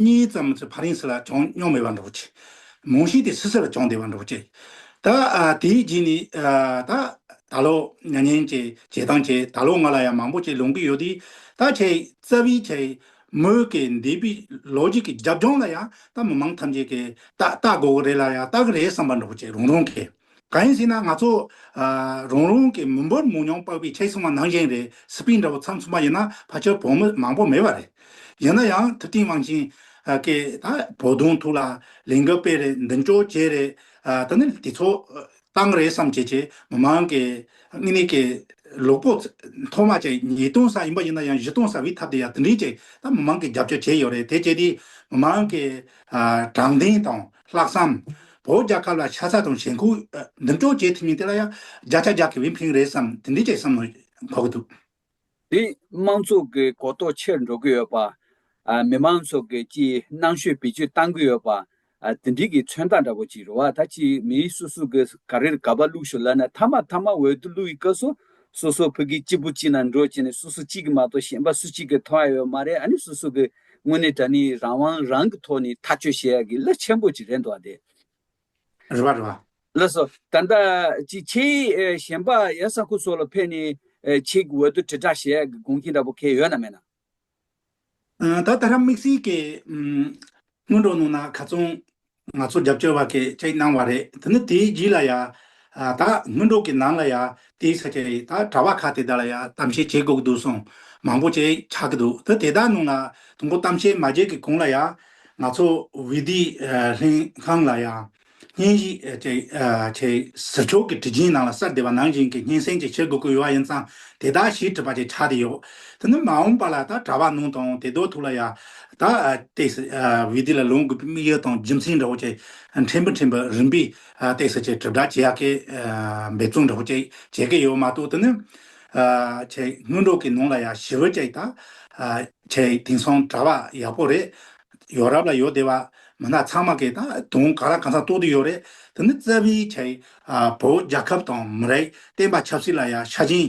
གཉིས་ཙམ་གྱི་བར་ཡིན་སྲིད་ལ་བྱུང་མྱོང་མེད་པར་འགྲོ་ཅི། མང་ཤོས་དེ་སུ་སྲིད་ལ་བྱུང་བདེ་བར་འགྲོ་ཅི། ད་དེའི་རྗེས་ནས་ད། ད་ལོ། མྱ་ངན་གྱི་བྱེད་སྟངས་ཀྱིས་ད་ལོ་ང་ལ་ཡང་མང་པོ་ཅིག་ལོང་གི་ཡོད་དུས། ད་ཁྱེད་རྩ་བའི་ཁྱེད། མོས་གི་འདས་པའི་ལོ་རྒྱུས་ཀྱི་རྒྱབ་ལྗོངས་ལ་ཡང་ད་མི་མང་ཐམས་ཅད་ཀྱིས་ད་ད་དགོས་གི་རེད་ལ་ཡང་ད་གི་རེད་བསམ་པར་འགྲོ་ཅི་རང་རང་གིས། གང་ཡིན་ཟེར་ན་ང་ཚོ། རང་རང་གི་མི་འབོར་མང་ཉུང་དཔག་པའི་ཁྲལ་སྲིང་བ་ནང་བཞིན་རེད་སི་པིན་འདྲ་བོ་ཚང་ཚུང་པ་ཡིན་ན་ཕ་ཆོལ་བོང་མི་མང་པོ་མེད་པ་རེད། ཡིན་ན་ཡང་ཐུབ་བསྟན་དབང་ཆེན། ཀེ། བོ་དོང་ཐུག་ལ་ལན་འགབ་པས་རེད་མདུན་ཅོག་ཅེས་རེད། ད་ནི་དེ་ཚོ། སྟངས་རེད་བསམ་བྱེད་ཀྱི་མི་མང་གི། དངོས་གནས་ཀྱི། ལོག་པོ། ཐོག་མ་ཅིག་ཉིས་སྟོང་ས་ཡིན་པ་ཡིན་ན་ཡང་བཞི་སྟོང་ས་བའི་ཐབས་དེ་ཡང་དེ་འདྲས་ཅིག་ད་མི་མང་གི་རྒྱབ་སྐྱོར་བྱས་ཡོད་རེད་དེ་བྱས་དུས། མི་མང་གི། དྲང་བདེན་དང། ལྷག་བསམ། བོད་རྒྱ་སྐབས་ལ་ཆ་ཚ་དང་ཞེན་ཁོག་འདེམས་གཅོག་བྱེད་ཐུབ་མིན་དེ་ལ་ཡང་བརྒྱ་ཆ་བརྒྱ་གི་བེམ་ཕིང་རེད་བསམ་དེ་འདི་བྱས་བསམ་མོ་འགོག་གི་འདུག། དེས་དམངས་ཚོགས་ཀྱི་གོ་རྟོགས་ཆེར་འགྲོ་གི་ཡོད་པ། མི་དམངས་ཚོགས་ཀྱི་སྤྱིའི་སྣང་ཤུལ་བེད་སྤྱོད་གཏང་གི་ཡོད་པ། དེ་འདྲིས་ཀྱི་མཚོན་རྟགས་འདྲ་བོ་ཅིག་རེད་བ་ད་ཅིས་མི་སུ་སུ་གི་ག་རེར་ག་པ་བླུགས་ཤོག་ལབ་ན་མཐའ་མ་མཐའ་མ་འོད་དུ་བླུགས་ཡི་སྐབས་སུ་སོ་སོ་ཕུག་གི་གཅིག་པུ་གཅིག་ལ་འགྲོ་བྱས་ནས་སུ་སུ་གཅིག་གི་མ་གཏོགས་གཞན་པ་སུ་གཅིག་གི་མཐོང་ཡ་ཡོད་མ་རེད་ཨ་ནི་སུ་སུ་གི་དངོས་གནས་དྲ་ནི་རང་དབང་རང་གི་ཐོག་ནས་ཐག་གཅོད་བྱེད་ཡག་གི་གླུ་ཆེན་པོ་ཅིག་རེད་འདུག་ཨདེ། རེད་བ་རེད་བ། ལགས་སོ། ད་ལྟ་ཅིག་ཁྱེད་གཞན་པ་ཡ་ས་ཁུ་སོགས་ལ་ཕེབས་ནས་ཅིག་འོས་བསྡུ་དྲིལ་བསྒྲགས་བྱེད་ཡག་གི་དགོངས་ཁྱེད་འདྲ་པོ་ཁེལ་ཡོད་ན་མེད་ན། ད་ད་ར་དམིགས་བསལ་གྱི་སྔོན་འགྲོ་གནང་ན་ག་ཚོང། ང་ཚོ་རྒྱབ་སྐྱོར་བ་གིས་ཅིག་གནང་བ་རེད་དེ་ནི་དེའི་རྗེས་ལ་ཡང། ད་སྔོན་འགྲོ་གི་ནང་ལ་ཡང་དེའི་ས་ཆ་རེད་ད་གྲྭ་བ་ཁག་དེ་དག་ལ་ཡང་གཏམ་བཤད་བྱེད་དགོས་ཀྱི་འདུག་གསུངས། མང་པོ་ཅིག་ཆགས་ཀྱི་འདུག་དེ་དེ་དག་ནང་ལ་དང་པོ་གཏམ་བཤད་མ་བྱེད་ཀྱི་གོང་ལ་ཡང། ང་ཚོ་བྷི་བྷི་ལྷན་ཁང་ལ་ཡང། བརྙན་གཞིས་ཅིག་ཆེས་ཟིལ་ཆོག་གི་དྲི་ཆེན་ནང་ལ་གསར་བདེ་བ་ནང་བཞིན་གྱི་སྙན་སེང་ཅིག་བྱེད་དགོས་ཀྱི་ཡོད་པ་ཡིན་ཙང་དེ་དག་ཞིབ་ཁྲིད་པ་ཅིག་ཆགས་ཏེ་ཡོད། དེ་ནི་མ་འོངས་པ་ལ་ད་གྲྭ་བ་ནང་དང་དེ་དོ་ཐུག་ལ་ཡང། ད་ལྟའི་བའི་དུས་ལ་ལོངས་དགོས་པའི་དམིགས་ཡུལ་དང་རྒྱུ་མཚན་འདྲ་བོ་བཅས་ཕྲན་བུ་ཕྲན་བུ་རིམ་པས་བལྟས་ཚེ་ཆེས་གྲུབ་འབྲས་ཇི་ཡག་གི་འབད་བརྩོན་འདྲ་བོ་བཅས་བྱེད་ཀྱི་ཡོད་མ་གཏོགས་དེ་ནི། ཆེས་སྔོན་འགྲོ་གི་ནང་ལ་ཡང་ཞི་བོད་བཅས་དང། ཆེས་དེང་སང་གྲྭ་བ་ཡག་པོ་རེད། ཡོ་རབ་ལ་ཡོད་བསྡད་པ་མི་སྣ་ཚང་མ་གིས་ད་དུང་ག་རང་གང་ཟག་རྟོགས་དུས་ཡོད་རེད་དེ་ནི་རྩ་བའི་ཆེས་བོད་རྒྱལ་ཁབ་དང་མི་རིགས་བསྟན་པ་ཆབ་སྲིད་ལ་ཡང་ཤ་ཞེན་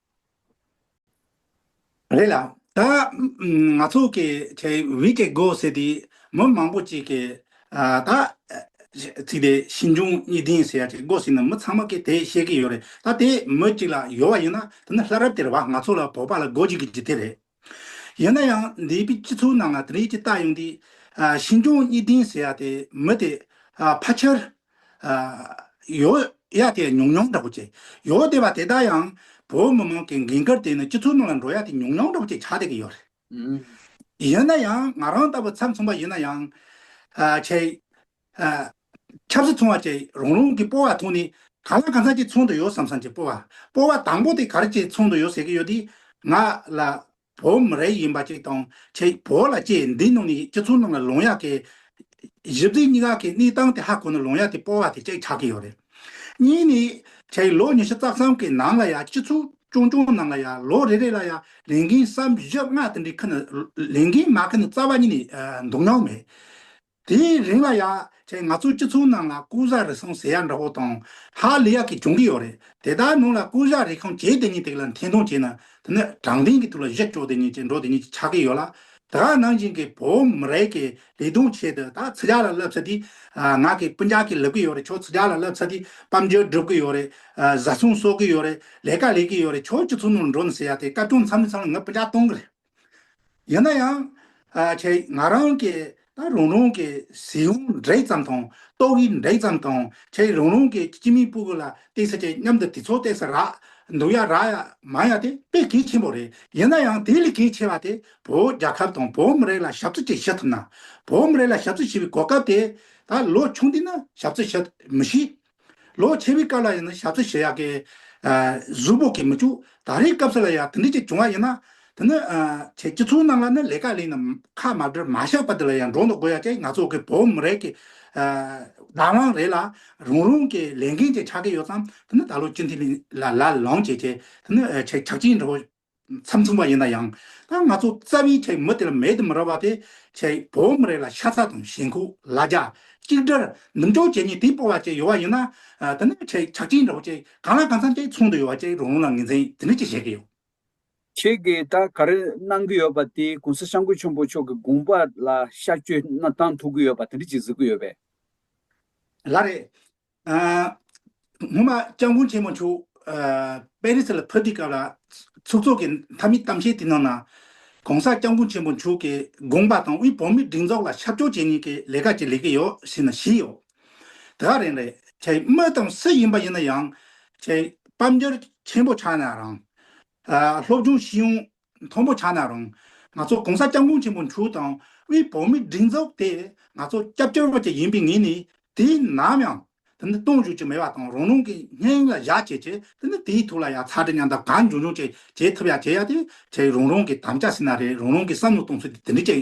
རེད་ལ། ད་ང་ཚོ་གི་ཆེ་བྷི་ཀེ་གོ་ཟེར་དེ་མི་མང་པོ་ཅིག་གི་ད་ཚིག་དེ་ཞིབ་འཇུག་གཉིས་ལྡན་ཟེར་ཡ་ཅིག་གོ་ཟིན་ན་མི་ཚང་མ་གི་དེ་ཤེས་གི་ཡོད་རེད་ད་དེ་མི་ཅིག་ལ་ཡོད་བ་ཡིན་ན་ད་ནི་ལྷ་རབ་དེར་བ་ང་ཚོ་ལ་བོད་པ་ལ་གོ་ཅིག་གི་ཅིག་དེ་རེད། ཡིན་ན་ཡང་འདས་པའི་སྤྱི་ཚོགས་ནང་ལ་དེ་རིགས་ཀྱི་རྟགས་ཡོང་དུས། ཤིན་སྐྱོང་གཉིས་ལྡན་ཟེར་ཡ་དེ་མི་དེ་ཕ་ཆེར། ཡོ་ཡ་དེ་ཉུང་ཉུང་འདྲ་པོ་བྱེད། ཡོ་དེ་བ་དེ་དག་ཡང་བོད་མི་མང་གི་འགན་ཁུར་དེ་ནི་སྤྱི་ཚོགས་ནང་ལ་འགྲོ་ཡ་དེ་ཉུང་ཉུང་འདྲ་པོ་བྱེད་ཆགས་བསྡད་ཀྱི་ཡོད་རེད། ཡིན་ན་ཡང་ང་རང་ལྟ་བུ་ཚབ་མཚུངས་པ་ཡིན་ན་ཡང། ཆེ། ཆབ་སྲིད་ཚོང་བ་བཅས་རང་རང་གི་སྤོ་བ་ཐོག་ནས། ག་ལ་ག་ཚང་གཅིག་ཚོང་དུ་ཡོད་བསམ་བསམ་གྱི་སྤོ་བ། སྤོ་བ་དང་པོ་དེ་ག་རེ་བཅས་ཚོང་དུ་ཡོད་ཟེར་གྱི་ཡོད་དེ། ང་ལ། བོད་མི་རེ་ཡིན་པ་ཅིག་དང། ཁྱེད་བོད་ལ་སྐྱེས་འདི་ནང་ནས་སྤྱི་ཚོགས་ནང་ལ་ལོང་ཡག་གི། གཞི་རྩའི་སྙིང་ཨ་ཁའི་གནས་སྟངས་དེ་ཧ་གོ་ནས་ལོང་ཡག་དེ་སྤོ་བ་དེ་ཅིག་ཆགས་ཀྱི་ཡོད་རེད། གཉིས་ནས། ཁྱེད་ལོ་ཉི་ཤུ་རྩ་གསུམ་གྱི་ནང་ལ་ཡང་སྤྱི་ཚོགས་ཆུང་ཆུང་ནང་ལ་ཡང་ལོ་རེ་རེ་ལ་ཡང་ལས་འགན་བསམ་བཞི་ལྔ་དེ་འདྲའི་ཁུ་ནས་ལས་འགན་མ་ཁུ་ནས་རྩ་བ་ཉིད་ནས་འདུག་མྱོང་མེད། དེའི་རིང་ལ་ཡང་ཁྱེད་ང་ཚོའི་སྤྱི་ཚོགས་ནང་ལ་ཀུ་ཧྲ་རི་སོང་ཟེར་ཡག་འདྲ་བོ་དང་ཧ་ལི་ཡག་གི་བྱུང་གི་ཡོད་རེད་དེ་ལྟར་ནང་ལ་ཀུ་ཧྲ་རི་ཁང་བྱས་དེ་ཉིད་དེ་ལ་འཐེན་འཐུང་བྱས་ན་དེ་ནི་དྲང་བདེན་གྱི་དུས་ལ་གཞི་བཅོལ་དེ་ཉིད་ཀྱི་འགྲོ་དེ་ཉིད་ཀྱི་ཆགས་ཀྱི་ཡོད་ལ་དེ་ག་ནང་བཞིན་གྱི་བོད་མི་རིགས་ཀྱི་ལས་དོན་ཆེད་དུ་ད་ཚི་ཇག་ལ་སླབ་ཚ་དུས་ང་གི་སྤུན་ཇག་གི་ལབ་ཀྱི་ཡོད་རེད་ཁྱོད་ཚི་ཇག་ལ་སླབ་ཚ་དུས་དཔའ་འབྱོར་སྒྲུབ་ཀྱི་ཡོད་རེད་བཟའ་ཚང་གསོག་གི་ཡོད་རེད་ལས་ཀ་ལས་ཀྱི་ཡོད་རེད་ཁྱོད་སྤྱི་ཚོགས་ནང་ལ་འགྲོ་ནས་ཟེར་ཡག་དེ་སྐབས་ཀྱང་མཚམས་རེ་མཚམས་རེ་ངའི་སྤུན་ཇག་གཏོང་གི་རེད། ཡིན་ན་ཡང། ཁྱེད་ང་རང་གི་ད་རུང་རུང་གི་ཟེའུ་འབྲས་ཙམ་དང་ཏོག་དབྱིབས་འབྲས་ཙམ་དང་ཁྱེད་རུང་རུང་གི་སྐྱི་མིག་སྤུ་གུ་ལ་བལྟས་ས་ཅན་མཉམ་དུ་དེ་ཚོ་བལྟས་ས་རག་འདུག་ཡ་རག་ཡ་མང་ཡ་དེ་དཔེ་གལ་ཆེན་པོ་རེད་ཡིན་ན་ཡང་དེ་ལས་གལ་ཆེ་བ་དེ་བོད་རྒྱ་ཁབ་དང་བོད་མི་རིགས་ལ་ཞབས་བརྩོ་ཅིག་བྱེད་ཐུབ་ན། བོད་མི་རིགས་ལ་ཞབས་བརྩོ་བྱེད་པའི་གོ་སྐབས་དེ་ད་ལོ་བྱུང་དུས་ན་ཞབས་བརྩོ་བྱེད་མི་ཤེས། ལོ་ཆེ་བའི་སྐབས་ལ་ཡང་ན་ཞབས་ཚུལ་བྱེད་ཡག་གི། གཟུགས་པོ་གིས་མི་ཆུགས་ད་རེས་སྐབས་སུ་ལ་ཡང་དེ་འདྲས་ཅིག་བྱུང་བ་ཡིན་ན། དེ་ནི། ཁྱེད་ཀྱི་ཚོའི་ནང་ལ་ནི་ལས་ཀ་ལས་ནི་ཁ་མ་བྲལ་མ་བཞག་པ་དེ་ལ་ཡང་འགྲོ་འདུག་དགོས་ཡ་ཅེ་ང་ཚོ་གི་བོད་མི་རེ་གི། བདག་དབང་རེད་ལ་རང་རང་གི་ལས་འགན་ཅིག་ཆགས་ཀྱི་ཡོད་ཙང་དེ་ནི་ད་ལོ་སྤྱི་འཐུས་ལ་ལ་ལོངས་སྤྱད་ཅེས་དེ་ནི་ཆེ་ཆགས་ཅིག་འགྲོ། མཚམས་མཚུངས་པ་ཡིན་ན་ཡང། ད་ང་ཚོ་རྩ་བའི་ཆེ་མི་དེ་ལ་མེད་དུ་མི་ར་བ་དེ། ཆེ་བོ་མི་རེ་ལ་ཤ་ཚ་དང་ཞེན་ཁོག་ལ་རྒྱ། གཅིག་འདྲར་ནུབ་འཇོག་བྱེད་ནས་དེ་སྤོ་བ་བཅས་ཡོད་བ་ཡིན་ན། དེ་ནས་ཆེ་ཆག་ཅིང་འདྲ་བོ་བཅས་གང་ལ་གང་འཚམ་བཅས་ཚོང་དུ་ཡོད་བ་བཅས་རང་རང་ལ་ངེས་འཛིན་དེ་འདྲ་བཅས་བྱེད་ཀྱི་ཡོད། ཁྱེད་ཀྱིས་ད་ག་རེ་གནང་གི་ཡོད་པ་དེ་གོང་ས་ཤངས་ཀུན་ཆེན་པོ་མཆོག་གི་དགོངས་པ་ལ་ཤར་བསྐྱོད་གནང་ཐུབ་ཀྱི་ཡོད་པ་དེ་འདྲ་བཅས་གཟིགས་ཀྱི་ཡོད་པས། ལ་རེད། སྔོན་མ་སྤྱང་དགུན་ཆེན་མོ་མཆོག་པེ་རི་སི་ལ་ཕེབས་དུས་སྐབས་ལ་ཚོགས་གཙོ་གི་མཐའ་མིའི་གཏམ་བཤད་དེ་ནང་ན། གོང་ས་སྐྱང་དགུན་ཆེན་མོ་མཆོག་གི་དགོངས་པ་དང་དབུས་བོད་མིའི་སྒྲིག་འཛོགས་ལ་ཆབ་ཅོག་བྱེད་ཉིན་གྱི་ལས་ཀ་ཅིག་ལས་ཀྱི་ཡོད་ཟེར་ན་བཞི་ཡོད། དེ་ག་རེང་རེད་ཅེ་སྨོས་དང་སུ་ཡིན་པ་ཡིན་ན་ཡང། ཅེ་དཔལ་འབྱོར་ཆེན་པོ་ཆགས་ན་རང། སློབ་སྦྱོང་ཤེས་ཡོན་མཐོན་པོ་ཆགས་ན་རུང། ང་ཚོ་གོང་ས་སྐྱབས་མགོན་ཆེན་པོ་མཆོག་དང་དབུས་བོད་མིའི་སྒྲིག་འཛུགས་དེ་ང་ཚོ་སྐྱབས་བཅོལ་བ་ཅིག་ཡིན་པའི་ངོས་ནས་དུས་ནམ་ཡང་དེ་ནི་སྟོང་བཞུགས་ཀྱི་མེད་པ་དང་རང་རང་གི་སྙིང་ལ་བཞག་བྱས་ཆེད་དེ་ནི་དེའི་ཐུགས་ལ་ཡང་ཚ་དྲི་མཉམ་དང་གང་འབྱུང་འབྱུང་བྱས་བྱས་ཐུབ་ཡ་བྱས་ཡ་དེ་ཁྱེད་རང་རང་གི་དམ་བཅའ་ཟིན་ན་རེད་རང་རང་གི་བསམ་བློ་གཏོང་ཚུལ་དེ་འདྲའི་ཅིག་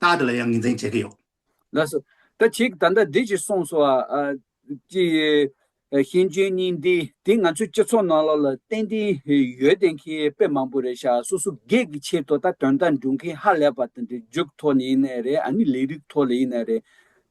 རྟགས་དེ་ལ་ཡང་ངེས་འཛིན་བྱེད་ཀྱི་ཡོད། ལགས་སོ། ད་ཅིག་ད་ལྟ་འདི་ཅིག་གསུངས་སོ། ཀྱི། ཤེས་འཇོན་གཉིས་འདི་འདི་ང་ཚོའི་སྤྱི་ཚོགས་ནང་ལོགས་ལ་ཏན་ཏན་ཡོད་དེ་མཁན་དཔེ་མང་པོ་རེད་ཤག་སོ་སོ་སྒེར་གྱི་ཆེད་དུ་ད་དོན་དག་འགྲུབ་མཁན་ཧ་ལས་པ་དེ་འདྲ་རྒྱུགས་ཐོག་ནས་ཡིན་ནའི་རེད་ཨ་ནི་ལས་རིགས་ཐོག་ལ་ཡིན་ནའི་རེད།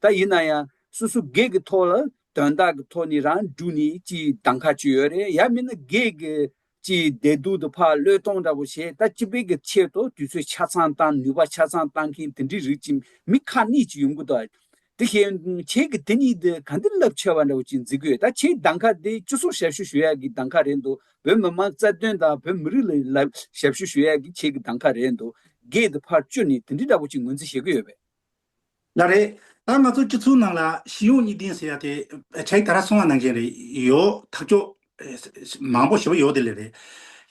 ད་ཡིན་ན་ཡང་སོ་སོ་སྒེར་གྱི་ཐོག་ལ་དོན་དག་གི་ཐོག་ནས་རང་འགྲུགས་ནས་ཅིག་གདམ་ག་བྱེད་ཡོད་རེད་ཡ་མིན་ན་སྒེར་གྱི་ཅེས་བདེ་སྡུག་ཏུ་ཕ་བློས་གཏོང་འདྲ་པོ་བྱས་ད་སྤྱི་དཔལ་གྱི་ཆེད་དུ་དུས་ཚོད་ཆ་ཚང་བཏང་ནུས་པ་ཆ་ཚང་བཏང་མཁན་དེ་འདྲའི་རིགས་ཀྱི་མི་ཁ་ནས་ཅིག་ཡོང་གི་འདུག་དེ་ཤེས་ཁྱེད་ཀྱི་དེ་གཉིས་དེ་ག་འདི་རླབས་ཆེ་བ་འདྲ་བོ་ཅིག་འཛིན་དགོས་ད་ཁྱེད་གདང་ཁ་དེ་ཅི་སོགས་ཞབས་ཞུ་ཞུ་ཡག་གི་གདང་ཁ་རེད་འདུག་བོད་མི་མང་རྩ་དོན་དང་བོད་མི་རིགས་ལ་ལ་ཞབས་ཞུ་ཞུ་ཡག་གི་ཁྱེད་ཀྱི་གདང་ཁ་རེད་འདུག་རྒས་དེ་ཕར་བཅུ་ནས་དེ་འདྲི་འདྲ་པོ་ཅིག་ངོས་འཛིན་བྱེད་ཀྱི་ཡོད་པས། ལ་རེད། ད་ང་ཚོ་སྤྱི་ཚོགས་ནང་ལ་གཞི་ཡོངས་གཉིས་ལྡན་ཟེར་ཡ་དེ་ཆ་ཡི་ད་ར་སོང་བ་གནང་མཁན་རེད་ཡོད་ཐག་ཆོད། མང་པོ་ཞེ་པོ་ཡོད་དེ་ལས་རེད།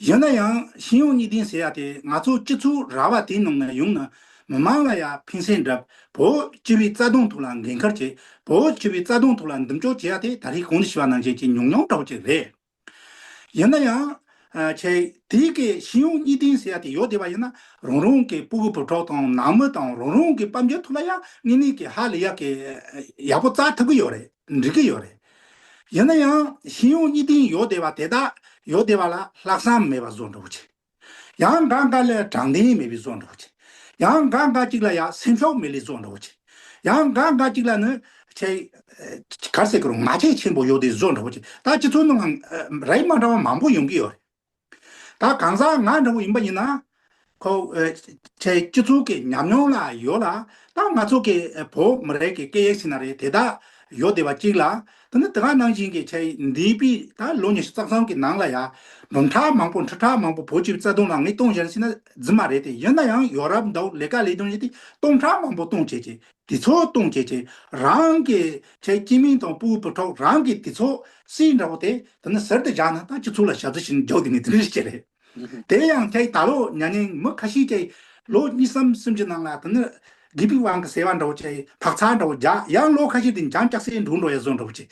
ཡིན་ན་ཡང་གཞི་ཡོངས་གཉིས་ལྡན་ཟེར་ཡ་དེ་ང་ཚོ་སྤྱི་ཚོགས་ར་བ་དེ་ནང་ན་ཡོང་ན་མི་མང་ལ་ཡ་ཕན་སེམས་བསྒྲབས་བོད་སྤྱི་བའི་རྩ་དོན་ཐོག་ལ་འགན་ཁུར་བྱེད་བོད་སྤྱི་བའི་རྩ་དོན་ཐོག་ལ་འདུམ་གཅོག་བྱེད་ཡ་དེ་ད་རེས་གང་འདྲ་ཞི་བ་གནང་མཁན་གྱི་ཉུང་ཉུང་འདྲ་བོ་ཅིག་རེད། ཡིན་ན་ཡང། ཆེ། དེ་གའི་གཞི་ཡོངས་གཉིས་ལྡན་ཟེར་ཡ་དེ་ཡོད་བསྡད་པ་ཡིན་ན། རང་རང་གི་སྤུ་གུ་བུ་གྲོགས་དང་ནང་མི་དང་རང་རང་གི་དཔའ་འབྱོར་ཐུགས་ལ་ཡང་དངོས་གནས་ཀྱི་ཧ་ལས་ཡག་གི། ཡག་པོ་བཙལ་ཐུབ་གི་ཡོད་རེད་འགྲིག་གི་ཡོད་རེད། ཡིན་ན་ཡང་གཞི་ཡོངས་གཉིས་ལྡན་ཡོད་བསྡད་པ་དེ་དག་ཡོད་བསྡད་པ་ལ་ལྷག་བསམ་མེད་པ་བཟོ་འགྲོ་བོ་ཆེ། ཡང་འགའ་འགའ་ལས་དྲང་བདེན་མེད་པའི་བཟོ་འདྲོགས་བྱེད། ཡང་འགའ་འགའ་གཅིག་ལ་ཡ་སེམས་ཕྱོགས་མེད་ལས་བཟོ་འདྲོགས་བྱེད། ཡང་འགའ་འགའ་གཅིག་ལ་ནི། གར་སེ་གུར་ང་ཆེ་ཆེན་པོ་ཡོད་དེ་བཟོ་འདྲོགས་བྱེད། ད་སྤྱི་ཚོགས་ནང་རེས་མ་འདྲ་བ་མང་པོ་ཡོང་གི་ཡོད་རེད། ད་གང་ཟག་ང་འདྲ་བོ་ཡིན་པ་ཡིན་ན། ཁོ། སྤྱི་ཚོགས་ཀྱི་ཉམས་མྱོང་ལ་ཡོད་ལ། ད་ང་ཚོ་གི་བོད་མི་རིགས་ཀྱི་སྐད་ཡིག་ཞིག་ན་རེ་དེ་དག་ཡོད་བསྡད་པ་གཅིག་ལ། དེ་ནི་དེ་ག་ནང་བཞིན་གྱི་ཆ་ཡིན། འདིའི་དཔེ་ད་ལོ་ཉི་ཤུ་རྩ་གསུམ་གྱི་ནང་ལ་ཡ། འབུམ་ཕྲག་མང་པོ་འཕྲུལ་ཕྲག་མང་པོ་བོད་སྤྱི་བའི་རྩ་དོན་ལ་ངས་སྟོང་བཞེར་བྱས་ན་རྫུན་མ་རེད་དེ་ཡིན་ན་ཡང་ཡོ་རབ་འདའོ་ལས་ཀ་ལས་དོན་བཞིན་དེ་སྟོང་ཕྲག་མང་པོ་སྟོང་བྱས་བྱས། དེ་ཚོ་སྟོང་བྱས་བྱས། རང་གི་ཆའི་སྐྱེས་མིང་དང་སྤུའི་བུ་ཕྲུག་རང་གི་དེ་ཚོ་སྲིད་འདྲ་བོ་དེ་དེ་ནི་ཟེར་དུ་བཞག་ན་ད་སྤྱི་ཚོགས་ལ་ཞབས་ཟི་བྱས་ནས་རྒྱག་དུས་ནས་དེ་འདྲ་ཞིག་བྱས་རེད། དེ་ཡང་དེ་ལྟ་ལོ་ཉྭ་ནི་མི་ཁ་ཤས་ཀྱིས་ལོ་གཉིས་སམ་གསུམ་གྱི་ནང་ལ་དེ་ནི་དགེ་སྡིག་དབང་གི་ཟེ་བ་འདྲ་བོ་ཅི་བག་ཚ་འདྲ་བོ་རྒྱག་ཡང་ལོ་ཁ་ཤས་དེ་འགྱངས་སྐྱག་སེ་འབྲུག་འགྲོ་ཡ་བཟོ་འདྲ་བོ་ཅི།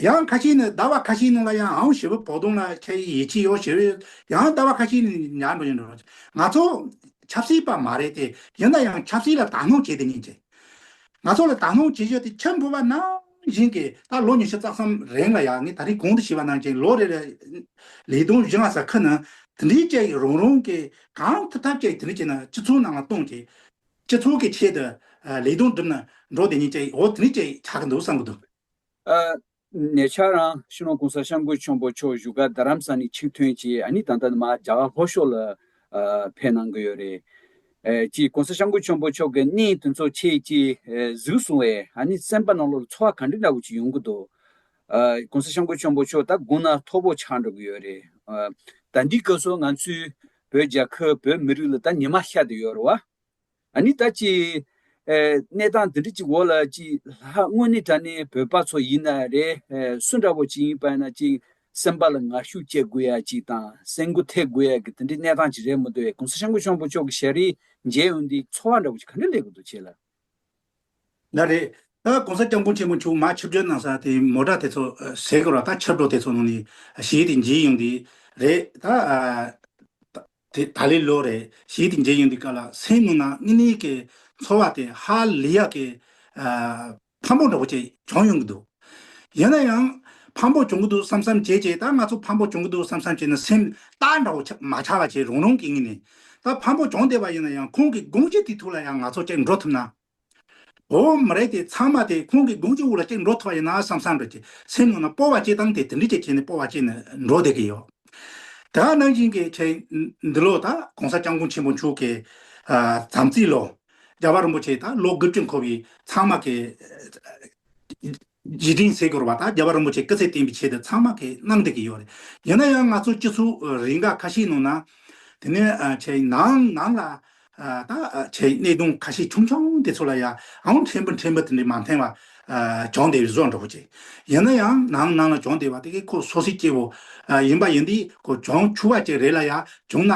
ཡང་ཁ་ཤས་ནི་ཟླ་བ་ཁ་ཤས་ནང་ལ་ཡང་ཨང་ཞེ་བོ་བོག་དོང་ལ་ཁྱེད་ཡི་ཡིད་ཆེས་ཡོད་ཞེ་བས་ཡང་ཟླ་བ་ཁ་ཤས་ནས་ཉར་འགྲོ་ཡ་འདྲ་བོ་ཅི། ང་ཚོ་ཆབ་སྲིད་པ་མ་རེད་དེ་ཡིན་ན་ཡང་ཆབ་སྲིད་ལ་དག་སྣང་བྱེད་དེ་ཉིན་བྱེད། ང་ཚོ་ལ་དག་སྣང་བྱེད་གཞི་དེ་ཁྱིམ་ཕུ་བ་ནང་བཞིན་གྱི་ད་ལོ་ཉི་ཤུ་རྩ་གསུམ་རིང་ལ་ཡང་ངས་ད་རིང་གོང་དུ་བྱིས་པ་རྣམས་ཀྱིས་ལོ་རེ་རེར་ལི་དུང་བཞི་ལྔ་ཟ་ཁ་ན་དེ་འདྲའི་སྐྱེ་ཡི་རང་རང་གིས་གང་ཐུབ་ཐབས་ཀྱིས་དེ་འདྲ་བྱས་ན་སྤྱི་ཚོགས་ནང་ལ་གཏོང་གི། སྤྱི་ཚོགས་ཀྱི་ཆེད་དུ་ལི་དུང་བསྒྲུབ་ན་འགྲོ་དེ་ཉིད་ཀྱི་འོ་དེ་འདྲས་བྱས་ཆགས་ཀྱི་འདུག་བསམ་གྱི་འདུག། ནས་ཆ་རང་ཤི་ནོ་གོང་ས་ཤམ་གོས་ཆོམ་པོ་མཆོག་བཞུགས་སྒར་རྡ་རམ་ས་ནི་ཆིག་ཐོན་བྱས་ཨ་ནི་ད་ལྟ་ནི་མ་རྒྱ་གར་ལྷོ་ཕྱོགས་ལ་འཕེན་གནང་གི་ཡོད་རེད། གཅིག ྋགོང་ས ྋསྐྱབས་མགོན་ཆེན་པོ་མཆོག་གི་གནས་དེ་ཚོ་ཆེད་ཀྱིས་གཟིགས་གསུང་བས་ཨ་ནི་སེམས་པ་ནང་ལོགས་ལ་ཚོར་བ་ག་འདྲི་འདྲ་བོ་ཅིག་ཡོང་གི་འདུག ྋགོང་ས ྋསྐྱབས་མགོན་ཆེན་པོ་མཆོག་ད་དགུང་ན་ཐོག་བོ་ཆགས་འགྲོ་གི་ཡོད་རེད། ད་འདི་སྐབས་སུ་ང་ཚོའི་བོད་རྒྱལ་ཁབ་བོད་མི་རིགས་ལ་ད་ཉི་མ་ཤར་དུ་ཡོད་རེད་བ། ཨ་ནི་ད་ཅི། གནས་སྟངས་འདི་འདྲ་ཅིག་འོག་ལ་ཅི། ལྷ་དངོས་ནི་ད་ནི་བོད་པ་ཚོ་ཡིན་ན་རེ། སུ་འདྲ་བོ་ཅིག་ཡིན་པ་ཡིན་ན་ཅི། སེམས་པ་ལ་ངར་ཤུགས་བསྐྱེད་དགོས་ཡ་ཅིག་དང་སེམས་སྒུག་ཐེབས་དགོས་ཡ་གི་དེ་འདྲའི་གནས་སྟངས་ཅིག་རེད་མོ་འདོད་གོང་ས་ཞང་ཀོ་གཤོང་པོ་མཆོག་གི་ཞལ་རས་མཇལ་ཡོང་དུས་ཚོར་བ་འདྲ་བོ་ཅིག་ག་འདྲ་ལེགས་དགོས་འདུག་བྱས་ལ། ན་རེ། ད་གོང་ས་སྐྱབས་མགོན་ཆེན་མོ་མཆོག་མ་ཆབ་སྦྱོར་གནང་ས་དེ་མོ་དྲག་དེ་ཚོ་ཟེར་དགོས་ར་ད་ཆབ་གྲོགས་དེ་ཚོ་ནང་ནས་ཞིག་ཡིན་དུས་མཇལ་ཡོང་དུས་རེད་ད། དེ་ད་ལི་ལོ་རེད་ཞེས་དེ་འཇལ་ཡོང་དུས་ཀ་ལ་སེང་ནུ་ན་ངི་ནི་ཀའི་ཚོར་བ་དེ་ཧ་ལི་ཡག་གི། ཕམ་པོ་འདྲ་བོ་ཅིག་བྱུང་ཡོང་གི་འདུག་ཡིན་ན་ཡང། ཕམ་པོ་བྱུང་གི་འདུག་བསམ་བསམ་བྱས་བྱས་ད་ང་ཚོ་ཕམ་པོ་བྱུང་གི་འདུག་བསམ་བསམ་བྱས་ན་སེམས་སྟག་འདྲ་བོ་མ་ཆགས་པ་ཅིག་རང་རང་གི་ངི་ནི་ད་ཕམ་པོ་བྱུང་བསྡད་པ་ཡིན་ན་ཡང་ཁོང་གི་དགོངས་གཞི་དེ་ཐུགས་ལ་ཡང་ང་ཚོ་ཅིག་འགྲོ་ཐུབ་ན་འོ་མ་རེད་དེ་ཚང་མ་དེ་ཁོང་གི་དགུང་ཆུ་བོ་ལ་གཅིག་འགྲོ་ཐུབ་པ་ཡིན་ན་བསམ་བསམ་འགྲོ་གི་སེམས་ངོ་ན་སྤོ་བ་སྐྱེ་སྟངས་དེ་དེ་འདྲི་གཅིག་བྱས་ནས་སྤོ་བ་སྐྱེ་ནས་འགྲོ་བསྡད་ཀྱི་ཡོད། དེ་འང་ནང་བཞིན་གྱི་ཁྱེད་འདི་ལོ་ད་གོང་ས་སྐྱབས་མགོན་ཆེན་པོ་མཆོག་གི་དམ་ཚིག་ལོ། རྒྱལ་བ་རིན་པོ་ཆེ་ད་ལོ་དགུ་བཅུ་འཁོར་བའི་ཚང་མ་གི། རྗེ་སྤྲིན་གསེར་སྐོར་བ་དང་རྒྱལ་བ་རིན་པོ་ཆེ་སྐུ་ཚེ་བརྟན་པའི་ཆེད་དུ་ཚང་མ་གིས་གནང་བསྡད་ཀྱི་ཡོད་རེད། ཡིན་ན་ཡང་ང་ཚོ་སྤྱི་ཚོགས་རེ་འགའ་ཁ་ཤས་ནང་ན། དེ་ནས་ཆེ་ནའང་ནང་ལ་ད་ཆེ་གནད་དོན་ཁ་ཤས་ཆུང་ཆུང་དེ་ཚོ་ལ་ཡང་ཕྲན་བུ་ཕྲན་བུ་དེ་འདྲའི་མ་འཐེན་བར་བྱུང་བསྡད་པའི་བཟོ་འདྲ་བོ་བྱེད། ཡིན་ན་ཡང་ནང་ནང་ལ་བྱུང་བསྡད་པ་དེ་གས་ཁོ་སོ་སོའི་སྐྱེ་བོ་ཡིན་པ་ཡིན་དུས་ཁོ་བྱུང་ཆུ་བ་ཅིག་རེ་ལ་ཡང་བྱུང་ན།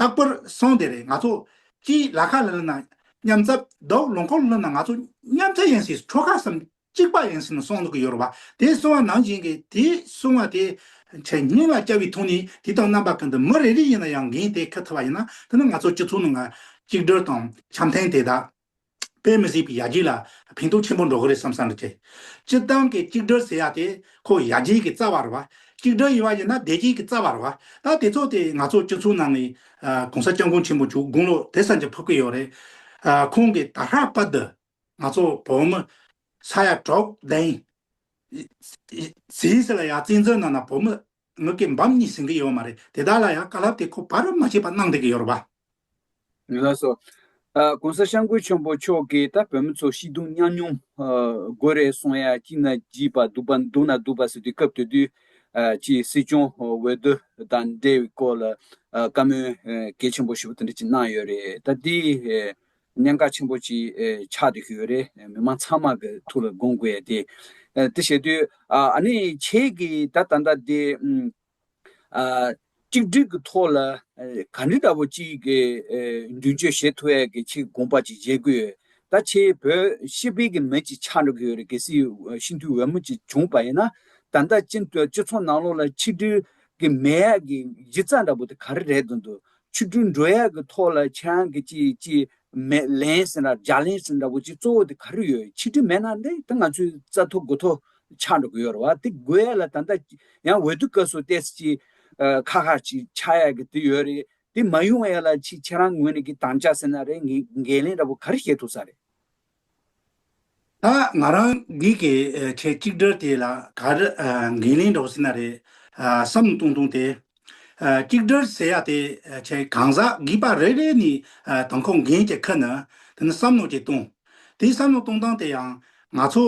རྟག་པར་སོང་དེ་རེད་ང་ཚོ་སྤྱིའི་ལ་ཁ་ལ་ལ་ན་མཉམ་རྩ་རྡོག་ལོང་ཁོག་ལོ་ན་ང་ཚོ་མཉམ་རྩ་ཡིན་སྲིད་ཁྲོ་ཁ་སམ་གཅིག་པ་ཡིན་སྲིད་ན་སོང་འདུག་གི་ཡོད་རེད་བ་དེ་སོང་བ་ནང་བཞིན་གི་དེ་སོང་བ་དེ་ཆ་སྙིང་ལ་སྐྱ་བའི་ཐོག་ནས་དེ་དང་རྣམ་པ་གང་དུ་མི་རེ་རེ་ཡིན་ན་ཡང་འགན་དེ་ཁུར་ཐུབ་པ་ཡིན་ན་དེ་ནི་ང་ཚོ་སྤྱི་ཚོགས་ནང་ལ་གཅིག་སྒྲིལ་དང་འཆམ་མཐུན་དེ་དག་དཔེ་མི་སྲིད་པའི་ཡར་རྒྱས་ལ་ཕན་ཐོགས་ཆེན་པོ་འགྲོ་གི་རེད་བསམ་བསམ་རེད་དེ། སྤྱིར་བཏང་གི་གཅིག་སྒྲིལ་ཟེར་ཡ་དེ་ཁོ་ཡར་རྒྱས་ཀྱི་རྩ་བ་རེད་བ། གཅིག་སྒྲིལ་ཡིན་བ་ཡིན་ན་བདེ་སྐྱིད་ཀྱི་རྩ་བ་རེད་བ། ད་དེ་ཚོ་དེ་ང་ཚོ་སྤྱི་ཚོགས་ནང་གི་གོང་ས་སྐྱབས་མགོན་ཆེན་པོ་བཅུག་དགུང་ལོ་དེ་ཙམ་གྱི་ཕུབ་ཀྱི་ཡོད་རེད། ཁོང་གི་ད་ཧྲག་པ་འདི་ང་ཚོ་བོད་མི་ས་ཡ་གྲོགས་དན། ཟིས་ལ་ཡ་བཙན་འཛུལ་གནང་ན་བོད་མི་ངག་གི་འབམ་གཉིས་ཟིན་གྱི་ཡོད་མ་རེད་དེ་དག་ལ་ཡང་བཀའ་སླབ་དེ་ཁོ་བར་རབ་མ་བྱེད་པར་གནང་བསྡད་ཀྱི་ཡོད་རེད་པ། ཡོད་ལགས་སོ། གོང་ས་ཤངས་ཀུན་ཆེན་པོ་མཆོག་གིས་ད་བོད་མི་ཚོ་ཤི་དུང་གཉའ་གནོང་དགོས་རེད་གསུངས་ཡ་སྐྱིད་ན་སྐྱིད་པ་སྡུག་པ་སྡུག་ན་སྡུག་པ་ཟེར་དུས་སྐབས་དེ་དུས་ཀྱི་སྲིད་སྐྱོང་འོས་བསྡུ་དང་འབྲེལ་བའི་སྐོར་ལ་བཀའ་མོལ་གལ་ཆེན་པོ་ཞེ་པོ་དེ་འདྲ་ཅིག་གནང་ཡོད་རེད་ད་དེའི་གནད་འགག་ཆེན་པོ་གཅིག་ཆགས་འདུག་གི་ཡོད་རེད་མི་མང་ཚང་མ་གི་ཐུགས་ལ་དགོངས་དགོས་ཡ་དེ། དེ་བྱས་དུས་ཨ་ནི་ཁྱེད་ཀྱི་ད་ད་ལྟ་དེ། གཅིག་སྒྲིལ་གི་ཐོག་ལ་ག་འདྲི་ལྟ་བུ་གཅིག་གི་མདུན་བསྐྱོད་བྱེད་ཐུབ་ཡ་གི་ཁྱེད་ཀྱི་དགོངས་པ་གཅིག་མཇལ་དགོས་ཡོད་ད་ཁྱེད་བོད་ཤེས་དཔལ་གྱི་མི་གཅིག་ཆགས་འགྲོ་གི་ཡོད་རེད་གལ་སྲིད་ཤིན་ཏུ་འོས་མོ་གཅིག་བྱུང་བ་ཡིན་ན་ད་ལྟ་སྤྱི་ཚོགས་ནང་ལོགས་ལ་ཆིག་སྒྲིལ་གི་མེད་ཡ་གི་གཞི་རྩ་འདྲ་བོ་དེ་ག་རེ་རེད་དུ་འདུག་ཆིག་སྒྲིལ་འགྲོས་ཡག་གི་ཐོག་ལ་ཁྱེད་རང་གི་ཅི་ཅི་མེད་ལན་ཟེར་འདྲ་ལྗགས་ལན་ཟེར་འདྲ་བོ་ཅིག་གཙོ་བོ་དེ་ག་རེ་ཡོད་ཆིག་སྒྲིལ་མེད་ན་འདི་ད་ང་ཚོའི་རྩ་ཐོ་དགུ་ཐོ་ཆགས་འགྲོ་གི་ཡོད་རེད་བ་དེ་དགོས་ཡས་ལ་ད་ལྟ་ཡང་འོས་བསྡུ་སྐབས་སུ་ལྟས་ཟིག་ཅིག་ཁ་ཁ་ཅིག་ཆགས་ཡས་གི་དེ་ཡོད་རེད་དེ་མ་ཡོང་ཡས་ལ་ཅིག་ཁྱེད་རང་ངོས་ནས་གི་དང་ལྕགས་ཟེར་ན་རེད་ངས་འགན་ལེན་འདྲ་བོ་ག་རེ་བཤད་ཐུབ་ས་རེད། ད་ང་རང་འདི་གི་ཆེ་གཅིག་སྒྲིལ་དེ་ལ་གར་འགན་ལེན་འགྲོ་ཟིན་ན་རེད་བསམ་བཏུང་བཏུང་སྟེ། གཅིག་སྒྲིལ་ཟེར་ཡ་དེ་ཆེ་གང་ཟག་སྒིག་པ་རེ་རེ་ནི་དང་ཁོ་འགན་གྱི་ཁུར་ནི་དེ་ནི་བསམ་བློ་གཅིག་བཏུང། དེ་བསམ་བློ་གཏོང་སྟངས་དེ་ཡང་ང་ཚོ་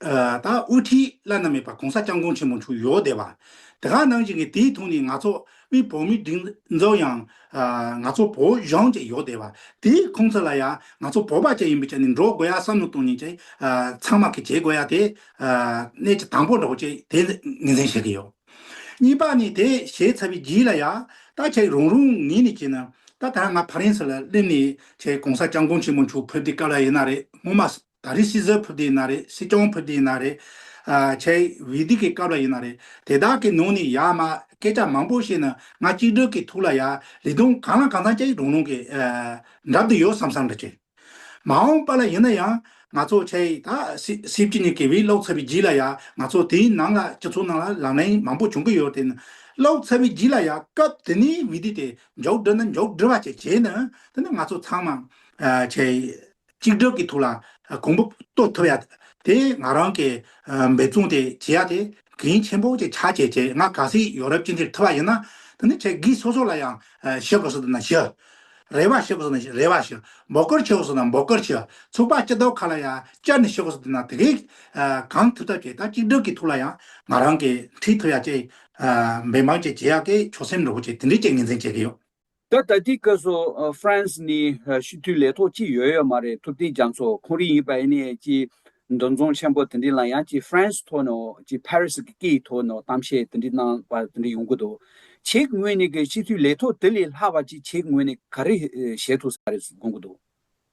ད་དབུ་ཁྲིད་བླ་ན་མེད་པ་གོང་ས་སྐྱབས་མགོན་ཆེན་མོ་མཆོག་ཡོད་བསྡད་པ། དེ་ག་ནང་བཞིན་གྱི་དེའི་ཐུགས་ནས་ང་ཚོ་དབུས་བོད་མིའི་སྒྲིག་འཛོགས་ཡང། ང་ཚོ་བོད་གཞུང་བཅས་ཡོད་བསྡད་པ། དེའི་ཁོང་ཚོ་ལ་ཡང་ང་ཚོ་བོད་པ་བཅས་ཡིན་པའི་ཆ་ནས་འགྲོ་དགོས་ཡ་བསམ་བློ་གཏོང་ཉིན་བཅས་ཚང་མ་གི་བྱེད་དགོས་ཡ་དེ་གནད་ཀྱི་དང་པོ་འགྲོ་བཅས་དེ་ངེས་ཟིན་བྱེད་ཀྱི་ཡོད། གཉིས་པ་ནི་དེ་བྱས་ཚར་བའི་རྗེས་ལ་ཡ་ད་ཁྱེད་རང་རང་ངེས་ནས་བྱས་ན་ད་ད་ང་ཕ་རན་ས་ལ་སླེབས་ནས་ཁྱེད་གོང་ས་སྐྱབས་མགོན་ཆེན་མོ་མཆོག་ཕེབས་དུས་སྐབས་ལ་ཡིན་ན་རེད་སྔོན་མ་ད་རེས་སྲིད་ཟུར་ཕུད་དེ་ཡིན་ན་རེད་སྲིད་སྐྱོང་ཕུད་དེ་ཡིན་ན་རེད། ཆེས་བས་དུས་ཀྱི་སྐབས་ལ་ཡིན་ན་རེད་དེ་དག་གི་ནང་ནས་ཡག་དམའ་སྐད་ཆ་མང་པོ་བཤད་ན་ང་གཅིག་སྒྲིལ་གྱི་ཐུགས་ལ་ཡག་ལས་དོན་གང་ལ་གང་འཚམ་ཅིག་རང་རང་གི་འགྲམ་དུ་ཡོད་བསམ་བསམ་འདྲ་བྱེད། མ་འོངས་པ་ལ་ཡིན་ན་ཡང་ང་ཚོ་ཆེས་ད་སྲིད་སྤྱི་གཉིས་ཀྱི་བས་ཀློག་ཚར་བའི་རྗེས་ལ་ཡང་ང་ཚོ་དེའི་ནང་ལ་སྤྱི་ཚོགས་ནང་ལ་ལག་ལེན་མང་པོ་བྱུང་གི་ཡོད་དེ་ནི་ཀློག་ཚར་བའི་རྗེས་ལ་ཡང་སྐབས་དེ་ནས་བས་དུས་དེ་མགྱོགས་སྒྲིལ་ན་མགྱོགས་སྒྲིལ་བ་བཅས་བྱས་ན་དེ་ནི་ང་ཚོ་ཚང་མ་ཆེས་གཅིག་སྒྲིལ་གྱི་ཐུགས་ལ་གོང་བུ་གཏོད་ཐུབ་ཡ། དེ་ང་རང་གི་འབད་བརྩོན་དེ་བྱེད་ཡ་དེ་གིང་ཆེན་པོ་ཅིག་ཆགས་ཆེ་ཆེ་ང་ག་སྲིད་ཡོ་རབ་སྤྱི་འཐུས་ཐུབ་པ་ཡིན་ན་དེ་ནི་ཆེ་གིས་སོ་སོ་ལ་ཡང་ཞི་དགོས་སོ་ད་ན་ཞི། རེ་བ་ཞི་དགོས་སོ་ན་རེ་བ་ཞི། འབོ་སྐོར་ཆེ་དགོས་སོ་ན་འབོ་སྐོར་ཆེ། ཚུགས་པ་སྤྱི་ལྡོག་ཁ་ལ་ཡང་སྤྱར་ནས་ཞི་དགོས་སོ་ད་ན་དེ་གིས་གང་ཐུབ་ཐབས་བྱེད་ད་གཅིག་སྒྲིལ་གྱི་ཐུགས་ལ་ཡང་ང་རང་གིས་འཁྲིད་ཐུབ་ཡ་ཅིག་འབད་འབངས་ཅིག་བྱེད་ཡ་གིས་ཆོག་སེམས་རིན་པོ་ཆེ་དེ་འདྲའི་ཅིག་ངེས་འཛིན་བྱེད་ཀྱི་ཡོད། ད་ལྟ་དེའི་སྐབས་སུ་ཧྥ་རན་སི་ནི་ཞི་མཐུན་ལས་ཐོག་ཅིག་ཡོད་ཡོད་མ་རེད་ཐུབ་བསྟན་རྒྱ་མཚོ་ཁོང་རིགས་ཡིན་པ་ཨེ་ནས་ཀྱི་འདུ་འཛོམས་ཆེན་པོ་དེ་འདྲི་ལ་ཡང་ཀྱི་ཧྥ་རན་སི་ཐོག་ནས་ཀྱི་ཕ་རི་སི་གི་སྐད་ཡིག་ཐོག་ནས་གཏམ་བཤད་དེ་འདྲི་གནང་བ་དེ་འདྲི་ཡོང་གི་འདུག་ཆེད་ངོས་ནས་ཀྱི་ཞི་མཐུན་ལས་ཐོག་དེ་ལས་ལྷག་པ་ཅིག་ཆེད་ངོས་ནས་ག་རེ་བྱེད་ཐུབ་ས་རེད་གསུངས་གི་འདུག།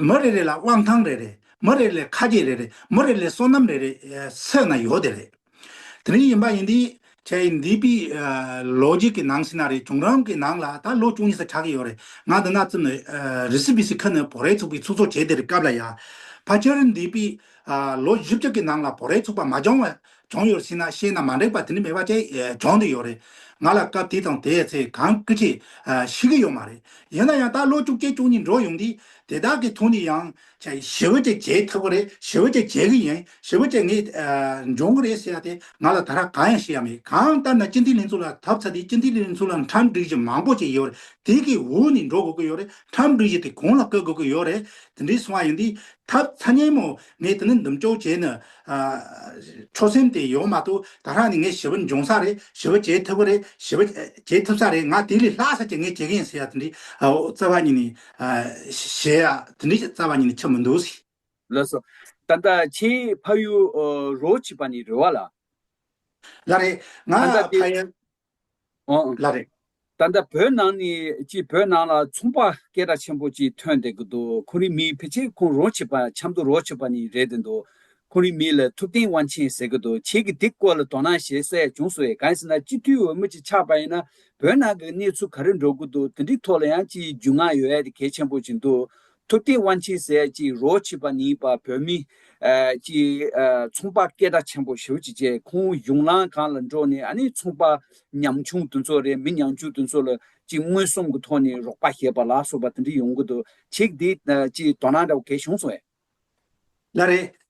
མི་རེ་རེ་ལ་དབང་ཐང་རེ་རེ། མི་རེ་རེ་ལས་ཁ་སྐྱེད་རེ་རེ། མི་རེ་རེ་ལས་སོ་ནམ་རེ་རེ། ཚད་ན་ཡོད་དེ་རེད། དེ་རིང་ཡིན་པ་ཡིན་དུས། ཁྱེད་ཡིན་དུས་པའི། ལོ་རྒྱུས་ཀྱི་ནང་ཞིག་ན་རེད་བྱུང་རང་གི་ནང་ལ་ད་ལོ་བཅུ་གཉིས་ས་ཆགས་ཀྱི་ཡོད་རེད། ང་འདི་ན་བཙུན་ནས། རི་སི་བི་སི་ཁ་ནས་བོ་རའི་ཚུགས་པའི་ཚུགས་ཚོགས་བྱས་དེ་རེད་སྐབས་ལ་ཡ། ཕ་ཁྱེད་ཡིན་དུས་པའི། ལོ་བཞི་བཅུ་གྱི་ནང་ལ་བོ་རའི་ཚུགས་པ་མ་སྦྱངས་བས། སྦྱོང་ཡོད་སྲིད་ན་ཤེས་ན་མ་འགྲིག་པ་དེ་འདྲ་མེད་པ་བཅས་སྦྱོང་དུ་ཡོད་རེད། ང་ལ་སྐབས་དེ་དང་དེའི་ཚེ་གང་སྐུལ་ཆེ་ཞིག་གི་ཡོད་མ་རེད། ཡིན་ན་ཡང་ད་ལོ་བཅུ་བརྒྱད་བཅུ་གཉིས་འགྲོ་ཡོང་དུས་དེ་དག་གི་ཐོག་ནས་ཡང། ཞི་བུ་བཅས་བྱེད་ཐུབ་ཀྱི་རེད་ཞི་བུ་བཅས་བྱེད་ཀྱི་ཡིན་ཞི་བུ་བཅས་ངས་འབྱུང་གི་རེད་ཟེར་ཡ་དེ་ང་ལ་ད་རག་གང་ཡང་ཤེས་ཡ་མེད་གང་ལྟར་ན་སྤྱི་འཐུས་ལྷན་ཚོགས་ལ་ཐབས་ཚ་དེ་སྤྱི་འཐུས་ལྷན་ཚོགས་ལ་འཁྲབ་འགྲིག་གཞི་མང་པོ་བཅས་ཡོད་རེད་དེ་གི་འོག་ནས་འགྲོ་དགོས་ཀྱི་ཡོད་རེད་འཁྲབ་འགྲིག་གཞི་དེ་གོང་ལ་བཀོད་དགོས་ཀྱི་ཡོད་རེད་དེ་འདྲས་སོང་བ་ཡིན་དུས་ཐབས་ཚ་སྙན་མོ་ངས་དེ་ནས་འདུམ་གཅོག་བྱས་ནས། ཆོད་སེམས་དེ་ཡོད་མ་གཏོགས་ད་རག་ནས་ངས་ཞི་བ་འབྱུང་ས་རེད་ཞི་བ་བྱེད་ཐུབ་ཀྱི་རེད་ཞི་བ་བྱེད་ཐུབ་ས་རེད་ང་དེ་ལས་ལྷག་ས་ཅིག་ངས་བྱེད་ཀྱི་ཡིན་ཟེར་ཡག་དེ་འདྲའི་རྩ་བ་ཉིད་ནས། བྱེད་ཡག་དེ་འདྲའི་རྩ་བ་ཉིད་ནས་ཆགས་མི་འདུག་ཟེར། ལགས་སོ། ད་ལྟ་ཁྱེད་ཕ་ཡུལ་རོ་བྱེད་པ་ནི་རེད་བ་ལགས། ལགས་རེད། ང་ཕ་ཡུལ། ལ་རེད། ད་ལྟ་བོད་ནང་ནས་ཀྱི་བོད་ནང་ལ་ཚོང་པ་སྐད་གྲགས་ཆེན་པོ་ཅིག་ཐོན་བསྡད་ཀྱི་འདུག་ཁོང་རིགས་མི་ཕལ་ཆེར་ཁོང་རོང་བྱེད་པ་ཆབ་མདོ་རོགས་བྱེད་པ་ནས་རེད་བསྡད་འདུག་ཁོང་རིགས་མི་ལ་ཐུབ་བསྟན་དབང་ཆེན་ཟེར་གྱི་འདུག་ཁྱེད་ཀྱིས་དེ་སྐོར་ལ་དོ་སྣང་བྱེད་སའི་བྱུང་སོང་ཡ་གང་ཟེར་ན་སྤྱི་འཐུས་འོས་མི་ཅིག་ཆགས་པ་ཡིན་ན་བོད་ནང་གི་གནས་ཚུལ་ག་རེ་འགྲོ་གི་འདུག་དེ་འདྲའི་ཐོག་ལ་ཡང་ཅིའི་རྒྱུས་མངའ་ཡོད་ཨེ་དེ་གལ་ཆེན་པོ་ཅིག་འདུག་ཐུབ་བསྟན་དབང་ཆེན་ཟས་ཀྱི་རོ་བྱེད་པ་ནི་པ་བོད་མི། ཀྱི་ཚོང་པ་སྐད་གྲགས་ཆེན་པོ་ཞོལ་གྱི་རྗེ་ཁོང་གཞུང་ལམ་གང་ལ་འགྲོ་ནས་ཨ་ནི་ཚོང་པ་ཉམ་ཆུང་དེ་ཚོ་རེད་མི་ཉམ་ཆུང་དེ་ཚོ་ལ་ཅིག་མངོན་སུམ་གྱི་ཐོག་ནས་རོགས་པ་བྱེད་པ་ལ་སོགས་པ་དེ་འདྲ་ཡོང་གི་འདུག་ཅིག་དེ་ཅིག་དོ་སྣང་འདྲ་བོ་གལ་བྱུང་སོང་ཡ། ལ་རེད།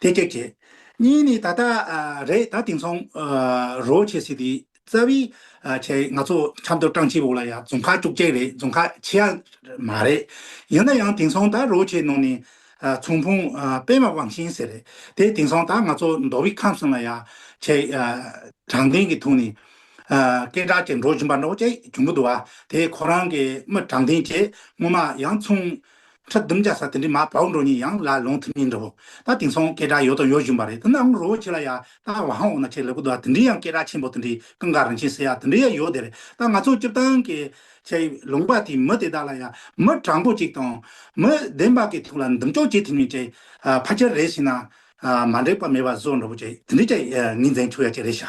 དེ་སྐད་བྱས། གཉིས་ནི་ད་ལྟ་རེད་ད་དེང་སང་རོ་བྱེད་སྲིད་དེ་རྩ་བའི་ཆེད་ང་ཚོ་ཆབ་མདོ་ཀྲང་ཆེ་བོ་ལ་ཡང་རྫོང་ཁག་བཅུ་བརྒྱད་རེད་རྫོང་ཁག་ཆེ་ཡ་མ་རེད་ཡིན་ན་ཡང་དེང་སང་ད་རོ་བྱེད་ནང་ནས་ཚོང་ཕུང་པད་མ་དབང་ཤིང་ཟེར་རེད་དེ་དེང་སང་ད་ང་ཚོ་མདོ་བའི་ཁམས་གསུམ་ལ་ཡང་ཆེད་དྲང་བདེན་གྱི་ཐུགས་ནས་སྐད་གྲགས་ཆེ་འགྲོ་བཞིན་པ་འདྲ་བོ་ཅིག་བྱུང་གི་འདུག་བ་དེ་ཁོ་རང་གི་མི་དྲང་བདེན་ཆེད་སྔོན་མ་ཡང་ཚོང་ཁྲི་བདུན་བརྒྱ་ས་དེ་འདྲའི་མ་བ་འུ་འགྲོ་གཉིས་ཡང་ལ་ལོང་ཐིམ་གཉིས་འདྲ་བོ། ད་དེང་སང་སྐད་གྲགས་ཡོད་དང་ཡོད་བཞིན་པ་རེད་དེ་ན་འུ་རོ་བོ་ཁྱེད་ལ་ཡ་ད་བ་ཧང་འོ་ན་ཁྱེད་ལེགས་པོ་འདུག་ཨ་དེ་འདྲའི་ཡང་སྐད་གྲགས་ཆེན་པོ་དེ་འདྲའི་ཀང་ག་རིན་ཆེན་ཟེར་ཡ་དེ་འདྲའི་ཡ་ཡོད་དེ་རེད་ད་ང་ཚོ་སྤྱིར་བཏང་གི་ཁྱེད་ལུང་པ་དེའི་མི་དེ་དག་ལ་ཡ་མི་དྲང་པོ་ཅིག་དང་མི་བདེན་པ་གི་ཐུགས་ལ་འདུམ་གཅོག་བྱེད་ཐིམ་ཡོད་ཅེས་ཕ་ཁྱེར་རེ་ཞིག་ན་མ་འགྲིག་པ་མེད་པ་བཟོ་འགྲོ་བོ་ཅེས་དེ་འདྲའི་ཁྱེད་ངའི་མཛེན་ཆུ་ཡ་ཅིག་རེད་ཤག།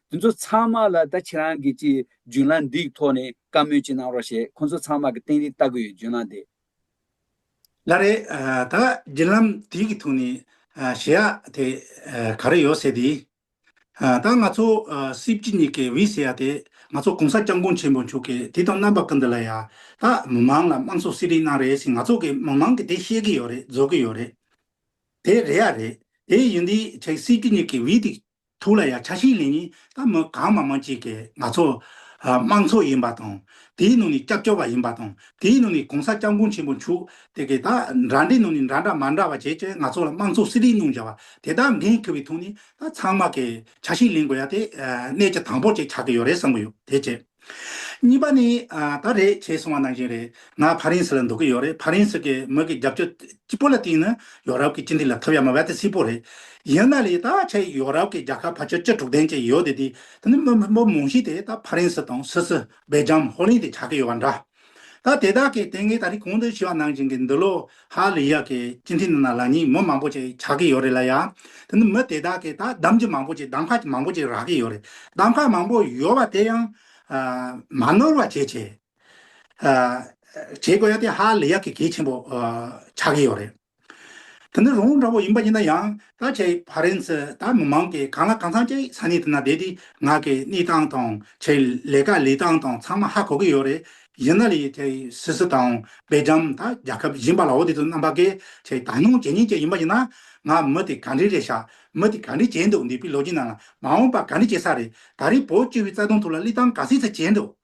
དེ་ཚོ་ཚང་མ་ལ་ད་ཁྱེད་རང་གིས་ཀྱི་རྒྱུན་ལམ་འདི་ཡི་ཐོག་ནས་བཀའ་མོལ་ཅིག་གནང་རོགས་ཞེས་ཁོ་ཚོ་ཚང་མ་གི་སྟེང་རིགས་ལྟ་གི་ཡོད་རྒྱུན་ལམ་དེ། ལ་རེད། ད་རྒྱུན་ལམ་དེ་གི་ཐུགས་ནས་ཞེ་ཡག་དེ་ག་རེ་ཡོད་ཟེར་དེ། ད་ང་ཚོ་སྲིད་སྤྱི་གཉིས་ཀྱི་བི་ཟེར་ཡག་དེ་ང་ཚོ་གོང་ས་སྐྱབས་མགོན་ཆེན་པོ་མཆོག་གིས་དེ་དང་རྣམ་པ་ཀི་འདི་ལ་ཡག་ད་མི་མང་ལ་དམངས་གཙོ་སྲིད་རིགས་གནང་རེད་ཟེར་ང་ཚོ་གི་མི་མང་གི་དེ་ཤེས་གི་ཡོད་རེད་རྫོགས་གི་ཡོད་རེད་དེ་རེད་ཡ་རེད་དེ་ཡིན་དེ་ཆ་གི་སྲིད་སྤྱི་གཉིས་ཀྱི་བི་དེ་ཐུགས་ལ་ཡང་ཆ་ཤིང་ལེན་ནི་ད་མི་གང་མང་མང་ཅིག་གིས་ང་ཚོ། དམངས་ཚོགས་ཡིན་པ་དང། དེའི་ནང་ནས་སྐྱབས་བཅོལ་བ་ཡིན་པ་དང། དེའི་ནང་ནས་གོང་ས་སྐྱབས་མགོན་ཆེན་པོ་མཆོག་དེ་གས་ད་འདྲ་འདྲའི་ནང་ནས་འདྲ་འདྲ་མ་འདྲ་བ་བྱས་ཀྱི་ང་ཚོ་ལ་དམངས་ཚོགས་སྲིད་ལས་གནང་བཞག་པ་དེ་དག་འགན་ཁུར་བའི་ཐོག་ནས་ད་ཚང་མ་གིས་ཆ་ཤིང་ལེན་དགོས་ཡ་དེ་གནད་ཀྱི་དང་པོ་ཅིག་ཆགས་ཀྱི་ཡོད་རེད་བསམ་གྱི་ཡོད་དེ་བཅས། གཉིས་པ་ནི། ད་རེད་བྱས་སོང་བ་ནང་བཞིན་རེད། ང་ཕ་རན་སི་ལ་འདུག་གི་ཡོད་རེད་ཕ་རན་སི་གི་མི་གི་རྒྱབ་སྐྱོར་ལྕི་པོ་ལ་བརྟེན་ནས་ཡོ་རབ་ཀྱི་སྤྱི་འཐུས་ལ་ཐོབ་ཡ་མ་བལྟ་སྲིད་པོ་རེད། ཡིན་ན་ལས་ད་ཆ་ཡོ་རབ་ཀྱི་རྒྱ་ཁབ་ཕ་ཆོལ་བཅུ་དྲུག་ལྡན་ཅིག་ཡོད་དེ་དེ་ནི་མི་མང་ཤས་དེ་ད་ཕ་རན་སི་དང་སུད་སི་བེལ་ཇམ་ཧོ་ལེན་དེ་ཆགས་ཀྱི་ཡོད་པ་འདྲ། ད་དེ་དག་གིས་དེ་ངས་ད་རིང་གོང་དུ་ཞུས་པ་ནང་བཞིན་གྱི་འདི་ལོ་ཧ་ལི་ཡག་གི་སྤྱི་འཐུས་རྣམས་ལ་ལག་གཉིས་མི་མང་པོ་ཅིག་ཆགས་ཀྱི་ཡོད་རེད་ལ་ཡ། དེ་ནི་མི་དེ་དག་གིས་ད་གདམ་གྱི་མང་པོ་ཅིག་གདམ་ཁ་གྱི་མང་པོ་ཅིག་རག་གི་ཡོད་རེད། གདམ་ཁ་མང་པོ་ཡོད་པ་དེ་ཡང། མ་ནོར་བ་བྱེད་ཆེད། བྱེད་དགོས་ཡ་དེ་ཧ་ལི་ཡག་གི་གལ་ཆེན་པོ་ཆགས་ཀྱི་ཡོད་རེད། དེ་ནི་རོང་བོ་འདྲ་བོ་ཡིན་པ་ཡིན་ན་ཡང་ད་ཆའི་ཧྥ་རན་སི་ད་མི་མང་གིས་གང་ལ་གང་འཚམ་གྱི་ས་གནས་དེ་ན་བསྡད་དེ་ང་གི་གནས་སྟངས་དང་ཆེད་ལས་ཀ་ལས་སྟངས་དང་ཚང་མ་ཧ་གོ་གི་ཡོད་རེད་ཡིན་ན་ལས་ཆེད་སི་སི་དང་སྦེལ་ཇམ་ད་རྒྱལ་ཁབ་གཞན་པ་ལའོ་དེ་ཚོ་རྣམ་པ་གི་ཆེད་དང་སྣང་བྱེད་ཉིན་བྱེད་ཡིན་པ་ཡིན་ན་ང་མི་དེ་ག་འདྲའི་རེད་ཤག་མི་དེ་ག་འདྲའི་བྱས་འདུག་འདས་པའི་ལོ་རྒྱུས་ནང་ལ་མ་འོངས་པ་ག་འདྲའི་བྱས་ས་རེད་ད་རེས་བོད་སྤྱི་བའི་རྩ་དོན་ཐུགས་ལ་བློས་བཏང་ག་ཚད་ཚད་བྱས་འདུག།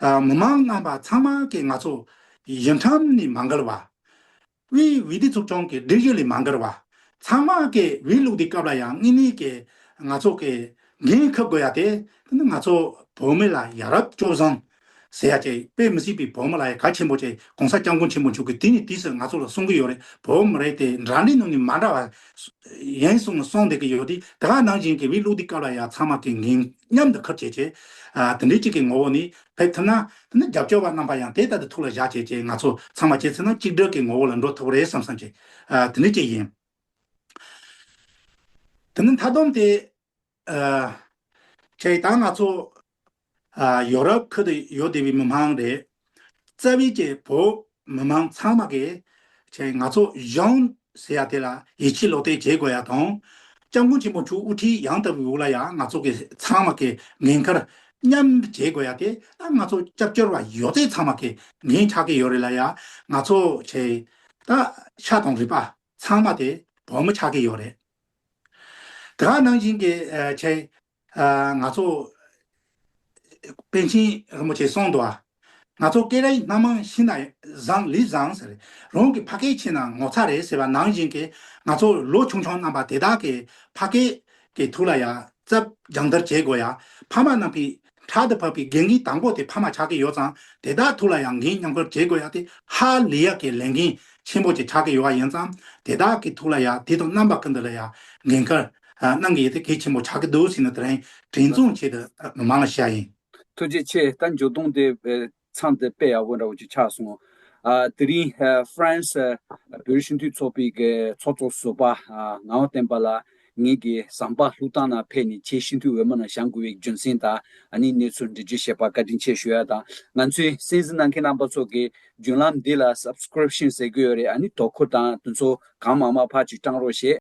མི་མང་རྣམ་པ་ཚང་མ་གིས་ང་ཚོ་ཡི་འཁྲམ་ནས་མ་འགལ་བ། དབུས་འོས་བསྡུ་ཚོགས་ཆུང་གི་སྒྲིག་གཞི་ལས་མ་འགལ་བ། ཚང་མ་གིས་འོས་བླུགས་དུས་སྐབས་ལ་ཡང་དངོས་གནས་ཀྱི་ང་ཚོ་གི་འགན་འཁུར་དགོས་ཡ་དེ་དེ་ནི་ང་ཚོ་བོད་མི་ལ་ཡ་རབས་སྐྱོ་བཟང་ཟེར་ཡ་ཅིག་དཔེ་མི་སྲིད་པའི་བོད་མི་ལ་ཡ་ག་ཆེན་པོ་ཅིག་གོང་ས་སྐྱབས་མགོན་ཆེན་པོ་མཆོག་གིས་དུས་ནས་དུས་སུ་ང་ཚོ་ལ་གསུང་གི་ཡོད་རེད་བོད་མི་རེད་དེ་འདྲ་འདྲའི་ནང་ནས་མ་འདྲ་བ་ཡིན་གསུང་ནས་གསུང་བསྡད་ཀྱི་ཡོད་དེ་དེ་ག་ནང་བཞིན་གྱི་འོས་བླུགས་དུས་སྐབས་ལ་ཡ་ཚང་མ་གིས་འགན། སྙམ་དུ་ཁུར་བྱེད་ཅེས། དེ་འདྲའི་གཅིག་གི་ངོ་བོ་ནི་བས་ཐུབ་ན། དེ་ནི་རྒྱབ་སྐྱོར་བ་རྣམ་པ་ཡང་དེ་ལྟ་དུ་ཐུགས་ལ་བཞག་བྱས་ཅེས་ང་ཚོ་ཚང་མ་ཁྱེད་ཚོའི་ནང་གཅིག་སྒྲིལ་གྱི་ངོ་བོ་ལ་འགྲོ་ཐུབ་རེད་བསམ་བསམ་བྱས། དེ་ནི་གཅིག་ཡིན། དེ་ནི་མཐའ་བསྡོམས་ཏེ། ཁྱེད་ད་ང་ཚོ། ཡོ་རོབ་ཁུལ་དུ་ཡོད་བསྡད་པའི་མི་དམངས་རེད། རྩ་བའི་སྐྱེ་བོ་མི་མང་ཚང་མ་གིས། ཆེ་ང་ཚོ་གཞོངས་ཟེར་ཡ་དེ་ལ་ཡིད་ཆེས་ལོག་ལྟས་བྱེད་དགོས་ཡ་དང། སྐྱབས་མགོན་ཆེན་པོ་དྲུག་དབུ་ཁྲིད་ཡང་ལྟ་བུའི་དབུ་བླ་ཡང་ང་ཚོ་གི་ཚང་མ་གི་ངན་ཁར་མཉམ་བྱེད་དགོས་ཡ་དེ་ད་ང་ཚོ་སྐྱབས་བཅོལ་བ་ཡོད་ཚད་ཚང་མ་གི་ངན་ཆགས་གི་ཡོད་རེད་ལ་ཡ་ང་ཚོ་ཆེ་ད་ཤ་དང་རི་པ་ཚང་མ་དེ་བོད་མི་ཆགས་གི་ཡོད་རེད་དགའ་ནང་བཞིན་གི་ཆེ་ང་ཚོ་པཎ་ཆེན་རིན་པོ་ཆེ་གསུངས་འདུག་ང་ཚོ་སྐད་ར་ཡི་སྣ་མང་ཤི་ན་བཟང་ལི་བཟང་ཟེར་རང་གི་ཕ་སྐད་ཕྱི་ན་ངོ་ཚ་རེད་ཟེར་བ་ནང་བཞིན་གྱི་ང་ཚོ་ལོ་ཆུང་ཆུང་རྣམ་པ་དེ་དག་གི་ཕ་སྐད་ཀྱི་ཐུགས་ལ་ཡ་རྩ་སྦྱང་བརྡར་བྱེད་དགོས་ཡ་ཕ་མ་རྣམས་ཀྱི་དྲག་ཏུ་བབས་པའི་འགན་གྱི་དང་པོ་དེ་ཕ་མ་ཆགས་ཀྱི་ཡོད་ཙང་དེ་དག་ཐུགས་ལ་ཡང་འགན་མཉམ་འཁུར་བྱེད་དགོས་ཡ་དེ་ཧ་ལི་ཡ་གི་ལས་འགན་ཆེན་པོ་ཅིག་ཆགས་ཀྱི་ཡོད་བ་ཡིན་ཙང་དེ་དག་གི་ཐུགས་ལ་ཡ་དེ་དང་རྣམ་པ་ཀུན་ཏུ་ལ་ཡ་འགན་འཁུར། གནང་གི་ཡོད་དེ་གལ་ཆེན་པོ་ཆགས་ཀྱི་འདུག་ཟེར་ནས་དེ་རིང་དྲན་གསོ་བྱས་ཏེ་མི་མང་ལ་བཤད་ཡིན། ཐུགས་རྗེ་ཆེ་ད་འཇོ་སྟོང་དེ་མཚམས་དེ་དཔེ་ཡག་པོ་འདྲ་བོ་ཅིག་ཆགས་སོང། དེ་རིང France བོད་སྤྱི་འཐུས་ཚོགས་པའི་ཚོགས་གཙོ་ཟུར་པ་ངག་དབང་བསྟན་པ་ལགས་ངེད་ཀྱི་ཟམ་པ་ལྷུག་ཐང་ནང་ཕེབས་ནས་ཁྱེད་སྤྱི་འཐུས་འོས་མ་ནང་བཞག་དགོས་པའི་རྒྱུ་མཚན་དང་ནི་གནས་ཚུལ་འདྲི་རྒྱུ་ཞེས་པ་བཀའ་དྲིན་ཆེ་ཞུ་ཡ་དང་ང་ཚོའི་གསན་གཟིགས་གནང་མཁན་རྣམ་པ་ཚོ་གི་བརྒྱུད་ལམ་འདི་ལ Subscription ཟེར་གྱི་ཡོད་རེད་ཨ་ནི་དོ་ཁུར་དང་དུ་ཚོ་གང་མང་མ་ཕར་ཅིག་སྤྲང་རོགས་ཞེས།